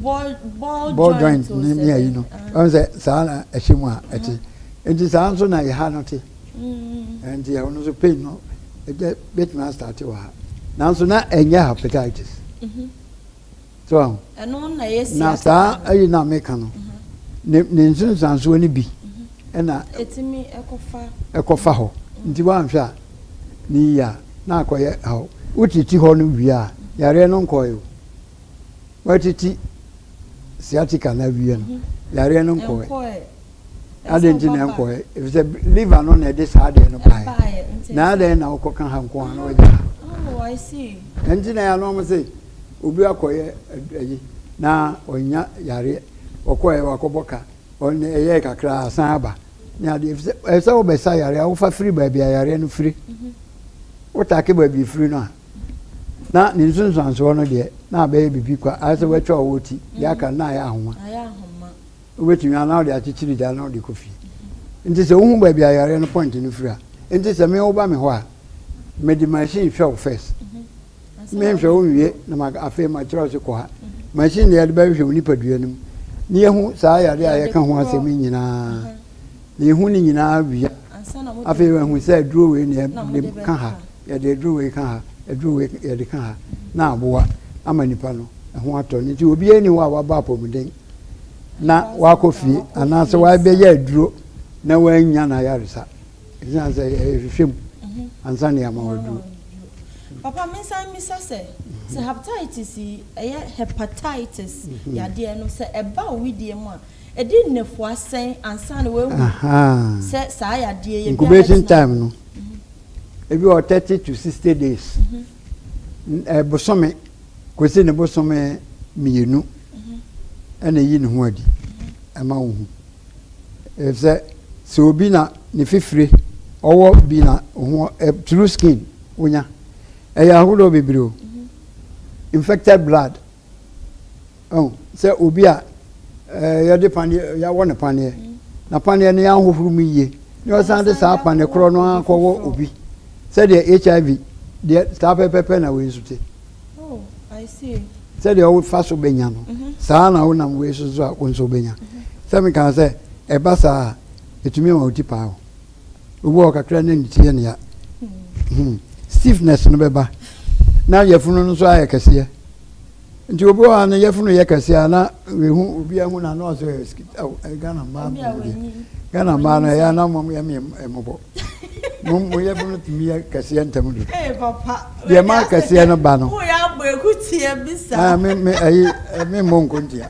ball joint ne ayi no, woahu sɛ saa na ɛhyɛ mu a ɛtse. Ntsi saa so na yɛha no tse. Ntsi ɔno so pain no ebetumi astarte wɔ ha. Naaso na ɛnnyɛ hepatitis. So ahu? Ɛno na ɛyɛ siasa. Na saa ɛyi na meka no, ne ne nsunsuansoɔ no bi ɛna ɛtumi ɛkɔfa ɛkɔfa hɔ. Nti wanhwɛ a ne yie a na akɔyɛ haw. Wotiti hɔ no wie a, yareɛ no nkɔɔɛ o. Watiti sciatica no awie no, yareɛ no nkɔɔɛ. adɛn nti na ɛnkɔɛ ɛfisɛ liver no na ɛde saa adeɛ no baeɛ na adɛn na wokɔka ha nko a na wagya ha oh, ɛnti na ɛano ɔmo se obi akɔyɛ ayi na ɔnya yareɛ ɔkɔɛ wakɔbɔ ka ɔne ɛyɛ kakra asan aba ne adeɛ ɛfisɛ ɛsɛ wobɛsa yareɛ a wofa firi baabi a yareɛ no firi mhm. wotake baabi firi no a na ne nsunsuansoɔ no deɛ na abɛyɛ biribi kwa ayɛ sɛ watwa ɔwɔ ti deɛ aka na ayɛ ahoma Wobɛtumi a na wode akyekyere gya na wode kɔ fie. Nti sɛ wohu baabi a yareɛ no point no firi a, nti sɛ me woba me hɔ a, mede machine hwɛ wo first. Mhm. Menhwɛ wo nwie na ma afei makyerɛ wo sɛ kɔ ha. Mhm. Machine na yɛde bɛhwehwɛ wo nipadua no mu. Na yɛhu saa yareɛ a yɛka ho asɛm nyinaa. Mhm. Na yɛhu ne nyinaa wie. Afei yɛhu sɛ aduro wei na yɛde ka ha. Yɛde aduro wei ka ha. Aduro wei yɛde ka ha. Na aboa ama nipa no ho atɔ no. Nti obiara ni hɔ a wabɔ apɔmuden. na wakɔ fie anaasɛ wabɛyɛ aduro na wannya no ayaresa ɛsiane sɛ ɛhwehwɛ mu mhm. ansa ne ama waduro papa mensan mmisa sɛ sɛ mhm. hepatitis yi ɛyɛ hepatitis mhm. yadeɛ no sɛ ɛba owidie mu a ɛdi nnɛfua sɛn ansa ne wahu sɛ saa yadeɛ yɛ incubation time no ebi wɔ thirty to sixty days ɛbosome Kɔsi ne bosome mmienu na ɛyi ne ho adi ma wo hu. Ɛfisɛ sɛ obi na ne fifire ɔwɔ bi na ho true skin wonya ɛyɛ ahodoɔ bebree o infected blood Ɔn sɛ obi a yɛde paneɛ, yɛawɔ no paneɛ, na paneɛ no yɛanhohoro mu yie, na ɔsan de saa paneɛ korɔ no ara kɔwɔ obi, sɛdeɛ HIV deɛ, saa pɛpɛpɛ na wei nso te. Sɛdeɛ wofa so bɛnya no, saa ara na wonam wei so nso a wo nso wobɛnya. Sɛ mekaa sɛ, ɛba saa a, ɛtumi ma wo ti paa wo. Obi wɔ hɔ kakra na ne ti yɛ nea hmm, stiffness no bɛba na yafunu no nso ayɛ kɛseɛ nti obi wɔ hɔ no yafunu yɛ kɛseɛ a na ehu obi ahu na ano asɛ ɛyɛ Ghana mmaa mu deɛ Ghana mmaa no ɛyɛ anam wɔn yɛ mi mmɔbɔ mo mo yafunu tumi yɛ kɛseɛ ntɛm do deɛ maa kɛseɛ no ba no. Wo yɛ abɔ ekutie bisa. Aa mi mi ɛyi mi mmɔ nkontia.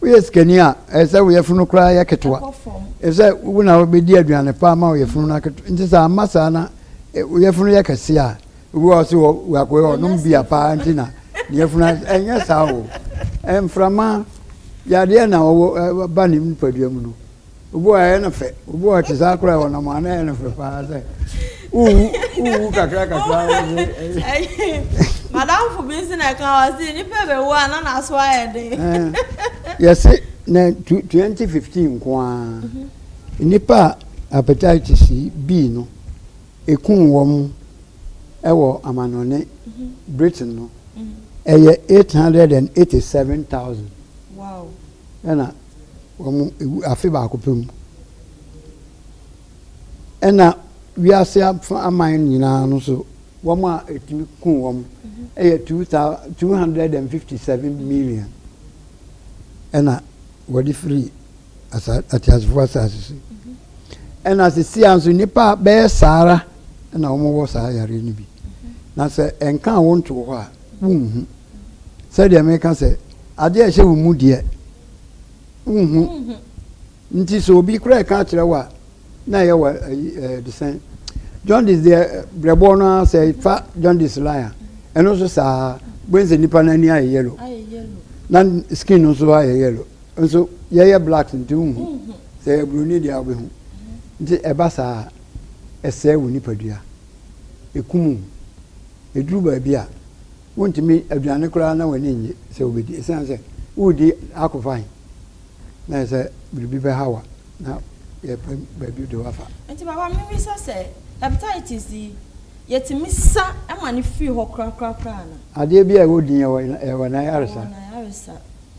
Woyɛ sikani a, ɛyɛ sɛ wo yafunu koraa yɛ ketewa, efisɛ wo na wubedi aduane pa ama wo yafunu no aketewa. Enti sɛ amma saa na wo yafunu yɛ kɛse a, obi wɔ hɔ a ɔse ɔakoe a ɔnom bia paa nti na ne yafunu ayɛ saa. Ɛnyɛ saa oo. Mframa yɛ adeɛ na ɔwɔ ba ne nipadua mu no. Obu a ɛyɛ no fɛ. Obu a ɔte saa koraa ɔnam a na ɛyɛ no fɛ paa sɛ wowu wowu kakra kakra madamfo bi nso na ɛka wɔ se nnipa bɛwu a na n'aso ayɛ den eh. yɛse na 2015 nko a mhm. nnipa a hepatitis B no ɛkum wɔ mu ɛwɔ amanɔne mhm. Britain no mhm. ɛyɛ 887,000 ɛna wɔwu afe baako pɛ mu. Ɛna wiase afa aman nyinaa no so wɔn a ɛtumi ku wɔn ɛyɛ two thousand two hundred and fifty seven million ɛna wɔde firi asa ateasefoɔ asase so ɛna sisi a nso nipa bɛyɛ saara ɛna wɔn wɔ saa yareɛ no bi na sɛ ɛnka wɔn to hɔ a. Wonhu. Sɛdeɛ meka sɛ, adeɛ a ɛhyɛ wo mu deɛ, wonhu. Nti sɛ obi koraa ɛka akyerɛ wo a, na ɛyɛ wɔ ayi desɛn. Jaundice deɛ brɛboɔ no ara sɛ fa jaundice line a, ɛno nso saa bɛn sɛ nipa n'ani ayɛ yellow. Na skin no nso ayɛ yellow. Nso yɛyɛ black nti wonhu. Sɛ ɛyɛ broni deɛ a wobɛhu. Nti ɛba saa a, ɛsɛe wo nipadua. ɛkum wo. Ɛduru baabi a, wontumi, aduane koraa na w'ani nnye sɛ wobɛdi ɛsiane sɛ woredi akofan na ayɛ sɛ biribi bɛha wo a na yɛpɛ baabi de wo afa. Nti papa mebisa sɛ hepatitis yi yɛtumi sa ma no firi hɔ korakora koraa anaa? Adeɛ biara ɛwɔ din ɛwɔ ɛwɔ n'ayaresa. Ɛwɔ n'ayaresa.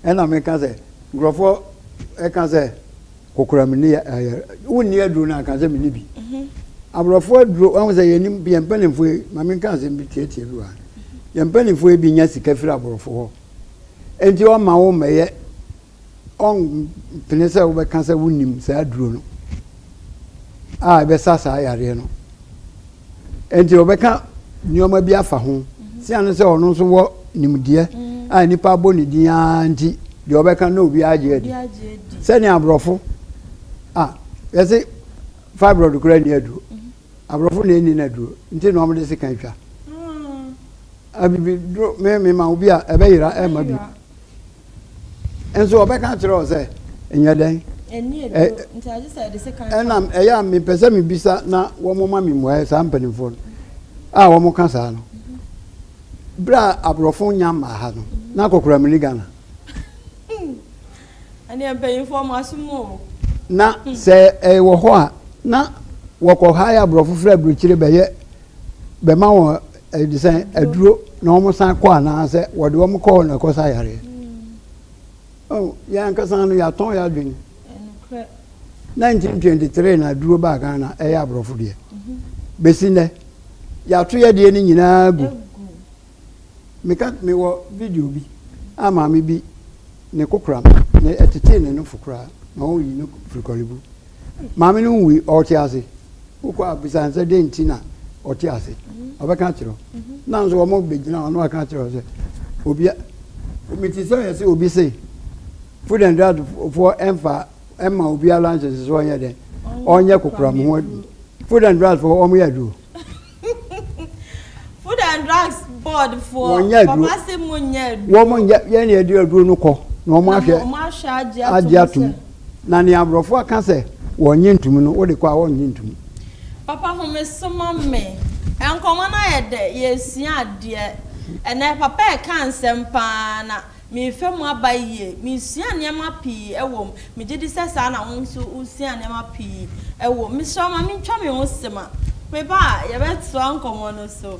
Ɛna meka sɛ nkurɔfoɔ ɛka sɛ. Kokoram nni yɛ ɛyɛ wonni aduro no anka sɛ menni bi aborɔfo aduro wɔn sɛ yɛnim yɛn mpanimfoɔ yi ma menka asɛm bi tiatia bi wɔ ha yɛn mpanimfoɔ yi bi nya sika firi aborɔfo hɔ enti ɔma wo mmɛyɛ ɔmpene sɛ wobɛka sɛ wonim saa aduro no a ɛbɛsa saa yareɛ no Enti wɔbɛka nneɛma bi afa ho. Sia no sɛ ɔno nso wɔ nimdeɛ a nnipa abɔ ne din ara nti, deɛ ɔbɛka na obiara agye adi. Sɛnea aborɔfo a yɛse fibroid koraa nni aduro. Aborɔfo na ɛnni no aduro nti na wɔde sika twa. Abibiduro me mema obi a ɛbɛyera ɛma bi. Nso ɔbɛka akyerɛ wo sɛ, Nyɛ dɛn? Ɛnni aduro, Ɛ, nti agye sɛ yɛde sekan fa Ɛnam, ɛyɛ a mepɛ sɛ mebisa na wɔma me mmuaeɛ, saa mpanimfoɔ no a wɔka saa no, berɛ a aborɔfo nnya mmaa ha no, na akɔkora menni Ghana. Ɛneɛ mpanyimfoɔ mo asom o. Na sɛ ɛwɔ hɔ a, na wɔkɔ hire aborɔfo firi aburokyire bɛyɛ, bɛma wɔn. Ɛde sɛ aduro na wɔn san kɔ anaasɛ wɔde wɔn kɔ hɔ na ɛkɔ sa yareɛ. Oh, yɛn ankasa no yɛatɔn yɛ adwene. 1923 na aduro baa Ghana ɛyɛ aborɔfo deɛ. Mhm. Bɛsi nnɛ, yɛato yɛ deɛ no nyinaa gu. Meka mewɔ video bi a maame bi ne kokoram na ɛtetee ne nofo koraa na ɔyi no firi kɔlebu. Maame no nwui, ɔte ase. Wokɔ a bisa no sɛ dɛn nti na ɔte ase. Ɔbɛka akyerɛ wo. Na nso wɔbɛgyina hɔ na wɔaka akyerɛ wo sɛ obia mete sɛ ɔyɛ sɛ obi se food and drug foɔ ɛmfa ɛma obiara lunches so ɔnyɛ dɛn ɔnyɛ kokoram ho adwuma food and drug foɔ wɔyɛ aduro Food and drugs board foɔ wɔn ase mu nyɛ aduro. wɔn nyɛ yɛn na yɛde aduro no kɔ na wɔn ahwɛ agye atum na nea aborɔfo aka sɛ wɔn nye ntum no wɔde kɔ a wɔn nye ntum. papa home soma me nkɔmɔ no ayɛ dɛ yɛresua adeɛ ɛnɛ papa ɛka nsɛm paa na. Merefa mu aba yiye. Meresuaa nneɛma pii wɔ mu. Megye di sɛ saa na wo nso wusuaa nneɛma pii wɔ mu. Mesrɛ wo ma mintwa me ho sima. Meba a, yɛbɛtoa nkɔmmɔ no so.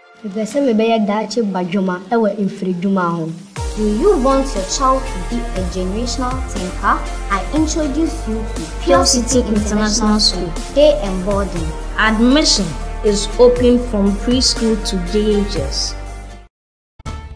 Mepɛ sɛ mebɛyɛ daakye badwemma wɔ mfiridwuma ho. Do you want your child to be a generational thinker? I introduce you to Pure City International School, Day and Boarding. Admission is open from pre-school to day ages.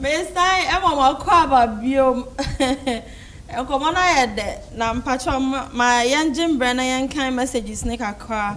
mesan ɛma mo akɔ aba biom nkɔmɔ no ayɛ dɛ na mpakyɛ ma yɛngye mbrɛ na yɛnkan messages ne kakra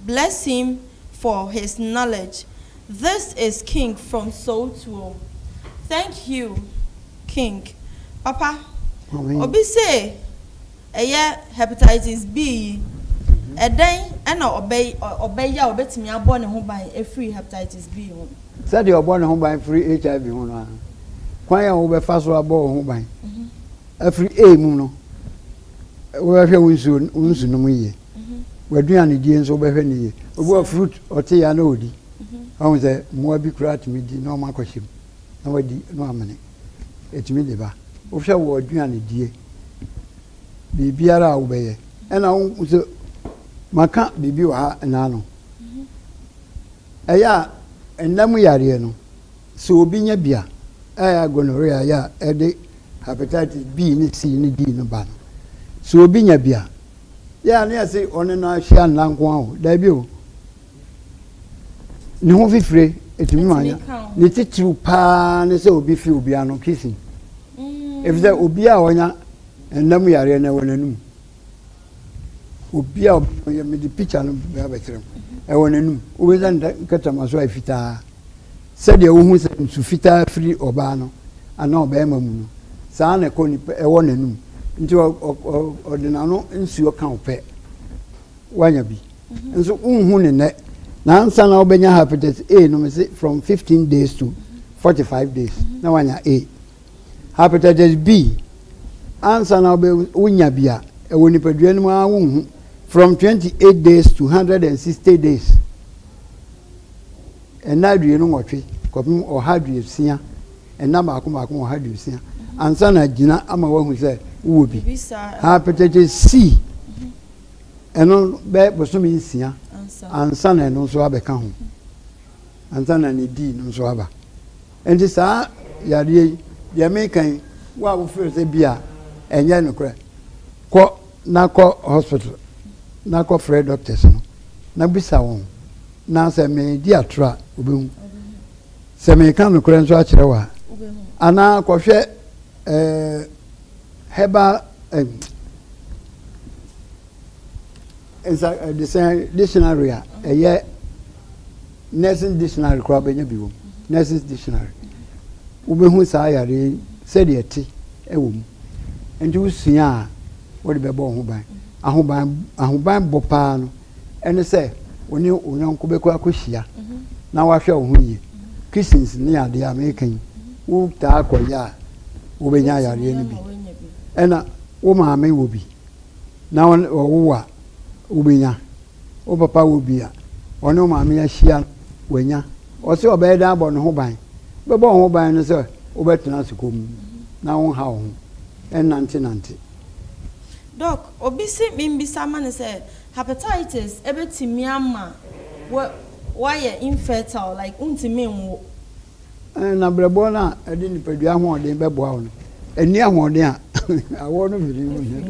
Bless him for his knowledge this is king from Sowtuo thank you king papa obi say ɛyɛ hepatitis B yi ɛdɛn ɛna ɔbɛ yɛ a ɔbɛtumi abɔ ne ho ban ɛfiri hepatitis B ho. Sɛdeɛ ɔbɔ ne ho ban firi HIV ho no ara kwan a wobɛfa so abɔ wo ho ban afiri A mu no wobɛhwɛ wo nsuo wo nsu nom yie. mhm. w'aduanedie nso wobɛhwɛ no yie obi wɔ fruit ɔte yɛ na ɔdi ɔhu sɛ mmoa bi koraa tumi di na ɔma akɔhyɛ mu na wadi na wamene ɛtumi de ba wohwɛ wɔ aduanedie biribiara a wobɛyɛ ɛna wohu sɛ maka biribi wɔ ha ɛnaa no ɛyɛ a ɛnna mu yareɛ no sɛ obi nya bi a ɛyɛ gonorrhea yɛ a ɛde hepatitis B ne C ne D no ba no sɛ obi nya bi a Yɛ a ne yɛse ɔne no ahyia nna nko ara o, daabi o. Ne ho fifire ɛtumi ma anya. Ne titiriw paa ne sɛ obi fi obi ano kissing. Mm. Efisɛ obi a ɔnya nna mu yareɛ na ɛwɔ n'anum. Obi a ɔyɛ mede picture no bɛkyerɛ mu. Ɛwɔ n'anum. Wobɛnya nkatama so a ɛfitaa. Sɛdeɛ wohu sɛ nsu fitaa firi ɔbaa no anaa ɔbarima mu no, saa ara na ɛkɔ nipa, ɛwɔ n'anom. Nti ɔ, ɔ, ɔ, ɔde n'ano nsuo ka wo pɛ. Woanya bi. Nso wonhu no nnɛ. Na ansa na wobɛnya Hepatitis A no, mese from 15 days to 45 days, na woanya A. Hepatitis B, ansa na wobɛ, wonya bi a, ɛwɔ nipadua no mu ara wonhu, from 28 days to 160 days. Nna aduonu-nwɔtwe kɔpem ɔha aduosia, nna baako baako ɔha aduosia, ansa na agyina ama wɔahu sɛ wowɔ bi. Hepatitis C, ɛno bɛyɛ bosome nsia ansa na ɛno nso abɛka ho, ansa na ne D no nso aba. Enti saa yareɛ yi, deɛ meka yi, wo a wofrɛ sɛ bi a ɛnyɛ nokorɛ, kɔ na kɔ hospital na kɔ frɛ doctors no na bisa wɔn, na sɛ medi atorɔ a wobɛhu, sɛ meka nokorɛ nso akyerɛ wo a, anaa kɔhwɛ eh, herbal eh, nsa, eh, dictionary a ɛyɛ Nursing dictionary koraa wobɛnya bi wɔ mu. Nursing dictionary. Wobɛhu saa yareɛ yi sɛdeɛ ɛte wɔ mu. Nti wosua a, wode bɛbɔ wo ho ban. Ahoban ahoban bɔ paa no ɛne sɛ wo ne wo yɔnko bɛkɔ akɔhyia mhm. na wahwɛ wo ho yie. Mhm. Kissings ne adeɛ a meka yi, wotaa kɔyɛ a wobɛnya yareɛ no bi. Ɛna wo maame wɔ bi na ɔwo a wobɛnya. Wo papa wɔ bi a ɔne wo maame ahyia no wanya. Ɔse ɔbɛyɛ dɛn abɔ ne ho ban? Wobɛbɔ wo ho ban ne sɛ wobɛtena ase komm na wonha wo ho nnantenante. Doc, obi se menbisa ma no sɛ Hepatitis bɛtumi ama wo woayɛ infertile, like wontumi nwo. Na brɛboɔ no a ɛde nipadua ahoɔden bɛboa wo no, ɛnni ahoɔden a awɔ no firi mu hia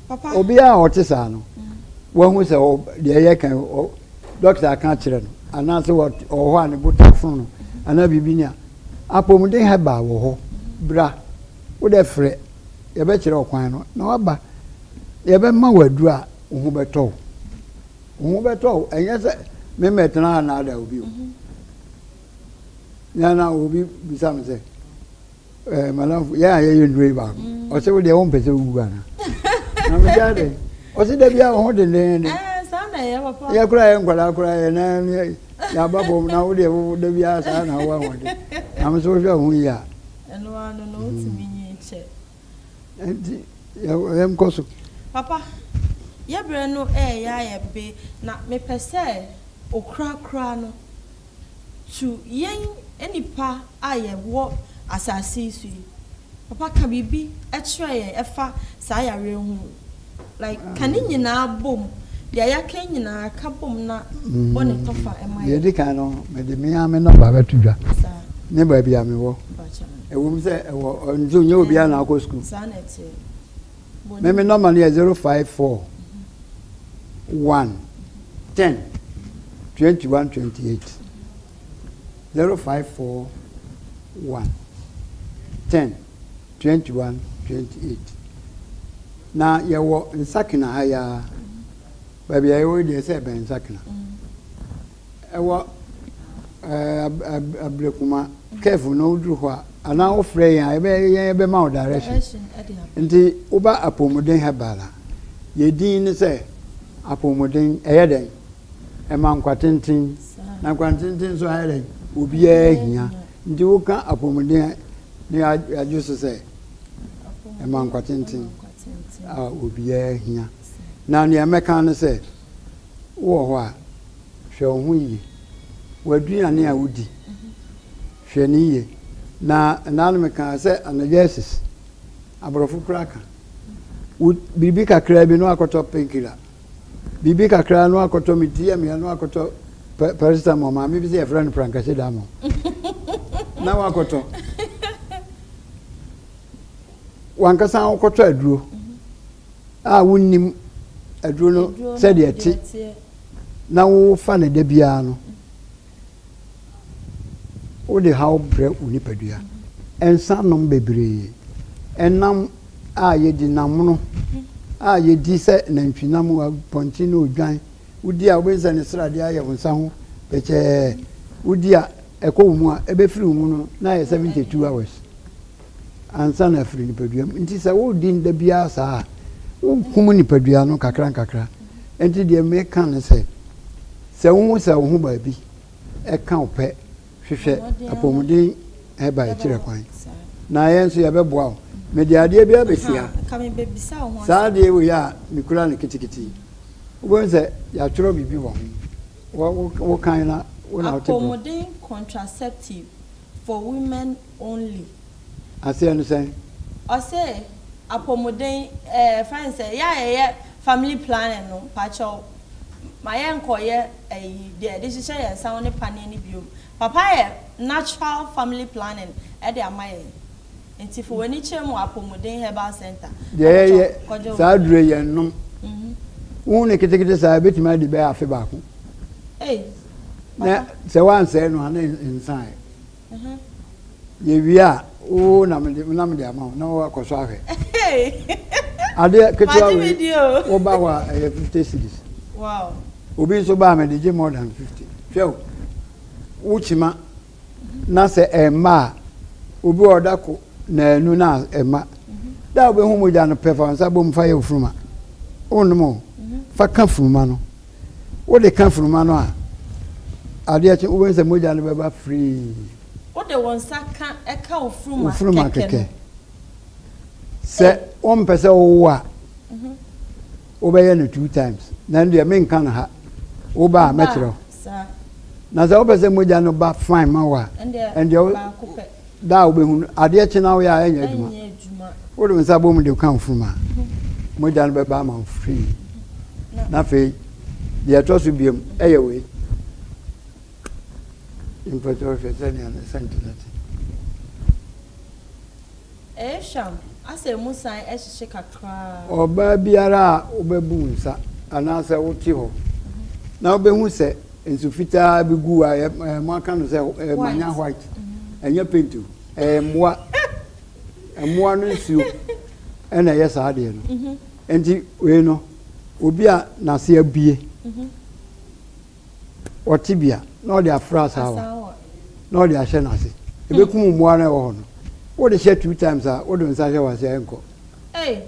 kwa. Obiara a ɔte saa no, wahu sɛ deɛ ɛyɛ kan dɔkta aka akyerɛ no anaasɛ ɔwɔ hɔ a ne bo ta fo no anaa biribi ni a apɔmuden herbal wɔ hɔ bra wodɛ frɛ yɛbɛkyerɛ ɔkwan no na waba yɛbɛma wɔ aduru a wo ho bɛtɔ wo Wo ho bɛtɔ wo, ɛnyɛ sɛ me mmɛtena ha nnaadaa obi o. Nea na obi bisa me sɛ, ɛɛ madamfo, yɛn a yɛyɛ nnuro yi baako, ɔse wo deɛ wompɛ sɛ wowu anaa? Na me sɛ adɛn? Ɔse da biara wo ho dendenden. Yɛ koraa yɛ nkwadaa koraa yɛ nan yɛaba fam na wo deɛ wo da biara saa na wo ahoɔden. Na me sɛ wohwɛ wo ho yie a. Ɛno ara no na wotumi nyi kyɛ. Ɛnti yɛn kɔ so. Papa, yɛ berɛ no ɛɛyɛ ayɛ be na me pɛ sɛ okura-kura no tu yɛn nnipa a yɛ wɔ asaase yi so yi. Papa ka biribi kyerɛ yɛn ɛfa saa yareɛ ho. Like ka ne nyinaa bom. Deɛ yɛaka nyinaa ka bom na bɔ ne tɔfa ma yɛn. Deɛ ɛdi kan no, mede me ara me nɔmba bɛto dwa ne baabi a mewɔ. Ɛwom sɛ ɛwɔ nso nyɛ obiara na akɔ sukuu. Saa na ɛteɛ. Me me nɔmba no yɛ zero five four one ten twenty one twenty eight zero five four one ten. 21 28 Na yɛwɔ nsakena ha yi ara, baabi a yɛwɔ yi deɛ sɛ ɛbɛn nsakena. Ɛwɔ Ablekuma curve no woduru hɔ a anaa wofrɛ yɛn a yɛbɛyɛ yɛn yɛbɛma wo direction. Nti woba Apɔmuden Herbal a, yɛn din ne sɛ Apɔmuden ɛyɛ dɛn? ɛma nkwa tenten, na nkwa tenten nso ayɛ dɛn? Obiara hia. Nti woka apɔmuden a, ne adwo so sɛ ɛma nkwa tenten a obiara hia. Na nea mɛka ne sɛ, wowɔ hɔ a, hwɛ wo ho yie. W'aduane a wodi, hwɛ ne yie. Na ɛnaa no mekaa sɛ analgesics, aborɔfo koraa ka, biribi kakraa bi na wakɔtɔ painkiller Biribi kakra no akɔtɔ me ti amia no akɔtɔ paracetamol maame bi sɛ yɛfrɛ no prankase damo na wakɔtɔ wankasa wokɔtɔ aduro a wonnim aduro no sɛdeɛ te na wofa no da biara no Wode haw brɛ wo nipadua. Nsa nom bebree. Ɛnam a yɛdi, nam mono a yɛdi sɛ nantwinam, apɔnkye ne odwan, wodi a wobɛhu sɛ ne sradeɛ ayɛ wo nsa ho pɛkyɛɛ, wodi a ɛkɔ wo mu a ɛbɛfiri wo mu no na ayɛ 72 hours. ansa na afiri nipadua mu. Nti sɛ wodi no da biara saa a, wokum nipadua no kakra nkakra. Nti deɛ meka ne sɛ, sɛ wohu sɛ wo ho baabi ɛka wo pɛ, hwehwɛ apɔmuden hɛba ɛkyerɛ kwan. Na yɛn nso yɛbɛboa wo. Mede adeɛ bi abɛsi ha. Saa adeɛ wei a mekura no kitikiti, wobɛhu sɛ yɛatwerɛ biribi wɔ ho. Wokan na wo na wote bɔ. Apɔmuden contraceptive. for women only. Aseɛ no sɛn? Ɔse apɔmuden eh yɛfrɛ no sɛ yɛ a yɛyɛ family planning no mpakyɛw ma yɛn kɔ yɛ ɛyi deɛ yɛde hyehyɛ yɛn nsa ho ne paneɛ no biom papa ayɛ natural family planning ɛde ama yɛn nti fa w'ani kyerɛ mu apɔmuden herbal center Deɛ yɛ yɛ saa aduro yi yɛn nom wohu no ketekete saa yɛbɛtumi adi bɛyɛ afe baako. Ei. na sɛ wansɛe no a na nsae yɛwie a wo na mede ama wo na wakɔ so ahwɛ adeɛ ketewa wei woba hɔ a ɛyɛ 50 cities obi nso baa mede gye more than 50 hwɛ wo kyima na sɛ ɛmma a obi wɔ ɔda ko naanu na ɛmma da wobɛhu mogya no pɛ fa nsa bom fa yɛ ofuruma wonom o fa ka furuma no Wode ka funuma no a, adeɛ kye wobɛhu sɛ mogya no bɛba firii. Wode wo nsa ka ɛka wo funuma kɛkɛ no. Sɛ wompɛ sɛ wowo a, wobɛyɛ no two times. Na ɛno deɛ menka no ha. Woba a mɛkyerɛ wo. Na sɛ wopɛ sɛ mogya no ba fine ma wo a, ɛndeɛ baako pɛ. Da a wobɛhu no, adeɛ kye na woyɛ a, ɛnyɛ adwuma. Wode wo nsa bom de ka mfurum a, mogya no bɛba ama wo frii. Na afei, deɛ ɛtɔ so biom ɛyɛ wei. Mpɛtɛ wohwɛ sɛnea ne sɛnte no te. Ɛyɛ hwam, asɛ ɛmu san hyehye kakra. Ɔbaa biara a wobɛbu wo nsa anaasɛ wote hɔ na wobɛhu sɛ nsu fitaa bi gu a moaka no sɛ manya white ɛnyɛ paint o ɛyɛ mmoa mmoa no nsuo ɛna ɛyɛ saa adeɛ no nti wei no obi a n'ase abue Ɔte bea na ɔde afra asaawa na ɔde ahyɛ n'ase. Ebekum mmoa no a ɛwɔ hɔ no. Wode hyɛ two times a, wode wo nsa hyɛ w'ase a, ɛnkɔ. Ei!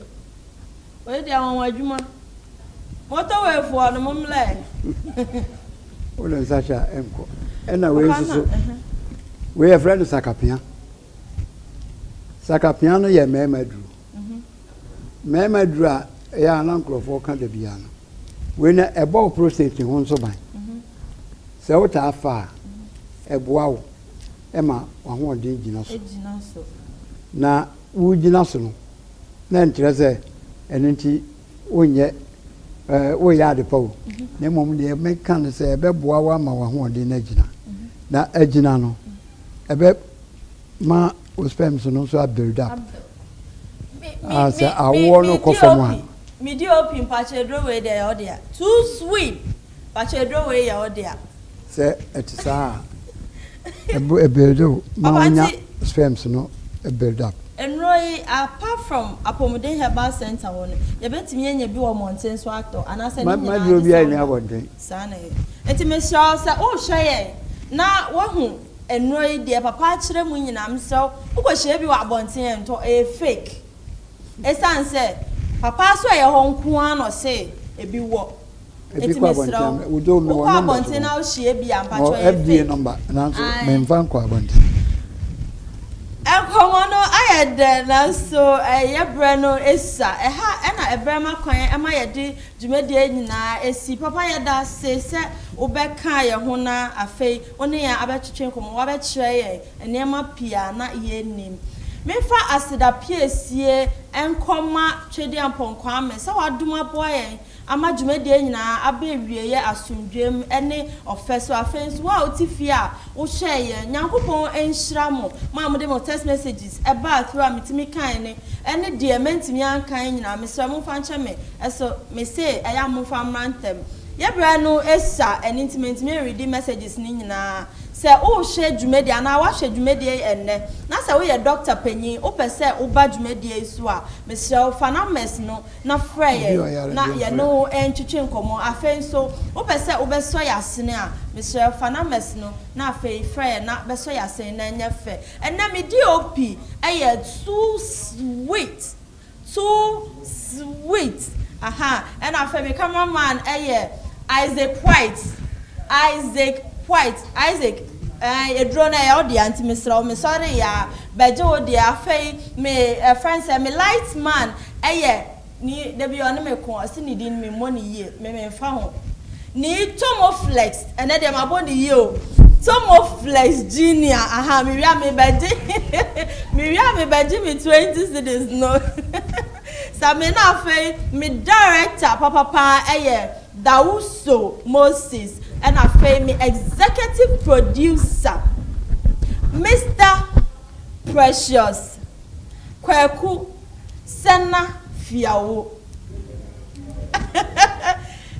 Wei deɛ anwanwa adwuma. Motorway foɔ no, mommrɛ. Wode nsa hyɛ a, ɛnkɔ. Ɛna wei nso so, wei yɛfrɛ no sakapea. Sakapea no yɛ mmarima aduro. Mmarima aduro a ɛyɛ a na nkurɔfoɔ ka da biara no, wei na ɛbɔ wo prostate ho nso ban. Sɛ wotaa fa a, ɛboa wo ma w'ahoɔden gyina so. Na wogyina so no, na ɛnkyerɛ sɛ ɛno nti wonyɛ ɛɛ woyɛ ade pa o na mmom deɛ meka no sɛ ɛbɛboa wo ama w'ahoɔden no agyina na agyina no ɛbɛ ma wo sperms no nso build up ah, sɛ awoɔ no kɔ fam a. medi opi mpakyɛ aduro wei deɛ yɛ ɔdea too sweet mpakyɛ aduro wei yɛ ɔdea Sɛ ɛte saa a, ɛbo ɛbuild wo ma wonya sperms no build up. Nnuro yi, apart from Apomuden Herbal Centre hɔ no, yɛbɛtumi anya bi wɔ mmɔnten so atɔ anaasɛ ne nyinaa de saa na ɛyɛ. Saa na ɛyɛ. Nti mesrɛ wo sɛ wohwɛ yɛn na woahu nnuro yi deɛ papa akyerɛ mu nyinaa, mesrɛ wo, wokɔhyia bi wɔ abɔnten a, ntɔ, ɛyɛ fake. Ɛsiane sɛ papa so ɛyɛ hɔ nko ara na ɔse ɛbi wɔ. Ebi kɔ abɔnten a, wo deɛ mewɔ number so hɔ. Mewɔ FDA number, nanso memfa nkɔ abɔnten. Nkɔmmɔ no ayɛ dɛ, nanso yɛn berɛ no asua. Ɛha na ɛberɛ ma kwan ma yɛde dwumadie nyinaa si. Papa yɛda ase sɛ wobɛkaa yɛn ho na afei wo ne yɛn abɛtwetwe nkɔmmɔ. Woabɛkyerɛ yɛn nneɛma pii a na yɛnnim. Memfa aseda piesie nkɔma Twedeampong Kwame sɛ wadom aboa yɛn ama dwumadie nyinaa aba awieɛ asomdwoeɛ mu ne ɔfɛ so. Afei nso wo a wote fie a wohwɛɛ yɛn, Nyankopɔn nhyira mo, mo a mode mo text messages baa through a metumi kae no ne deɛ mantumi ankan nyinaa. Mesrɛ momfa nkyɛ me so, mese ɛyɛ a momfa mmra ntɛm. Yɛ berɛ no sua, ɛno nti mantumi anreadi messages no nyinaa. Sɛ worehwɛ dwumadie anaa woahwɛ dwumadie yi ɛnnɛ na sɛ woyɛ Doctor panyin, wopɛ sɛ woba dwumadie yi so a, mesrɛ wo fa numbers no. na frɛ yɛn na yɛne wo ntwetwe nkɔmmɔ. Afei nso, wopɛ sɛ wobɛsɔ yɛn asene a, mesrɛ fa numbers no na afei frɛ yɛn na bɛsɔ yɛn asene na ɛnyɛ fɛ. Ɛnnɛ me DOP yɛ too sweet, too sweet, ahaa, ɛna afei me camera man yɛ Isaac White, Isaac White, Isaac, ɛɛ aduro no ɛyɛ wo dea nti mesrɛ wo, mesɔreeɛ a bɛgye wo deɛ. Afei me ɛfrɛ no sɛ me light man, Ɛyɛ ni da bi ɔne me ko ɔse ne din me mmɔ no yie me me nfa ho nii Tomo flex ɛnɛ deɛ mabɔ no yie o Tomo flex junior aha me wia me bɛgye me wia me bɛgye me 20 cedis no sa me na afei me director papapaa ɛyɛ Dawuso Moses ɛna afei me executive producer Mister Precious Kwaku sɛ na fiawo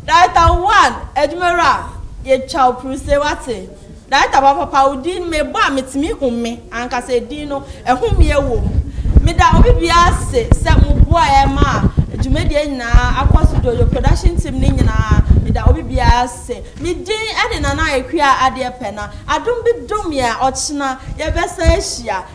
Director one adwumawura yɛtwa wo pruse wate Director ba papa wo din mebɔ a metumi hu me ankasa edin no ɛhomeɛ wɔ mu Meda obi biara ase sɛ mo boa a ɛma dwumadie nyinaa akɔ so Jojo production team no nyinaa meda obi biara ase Me din ɛne Nana Akua Adeɛpɛ na adom bi dom yɛn a ɔkyena yɛbɛsan ahyia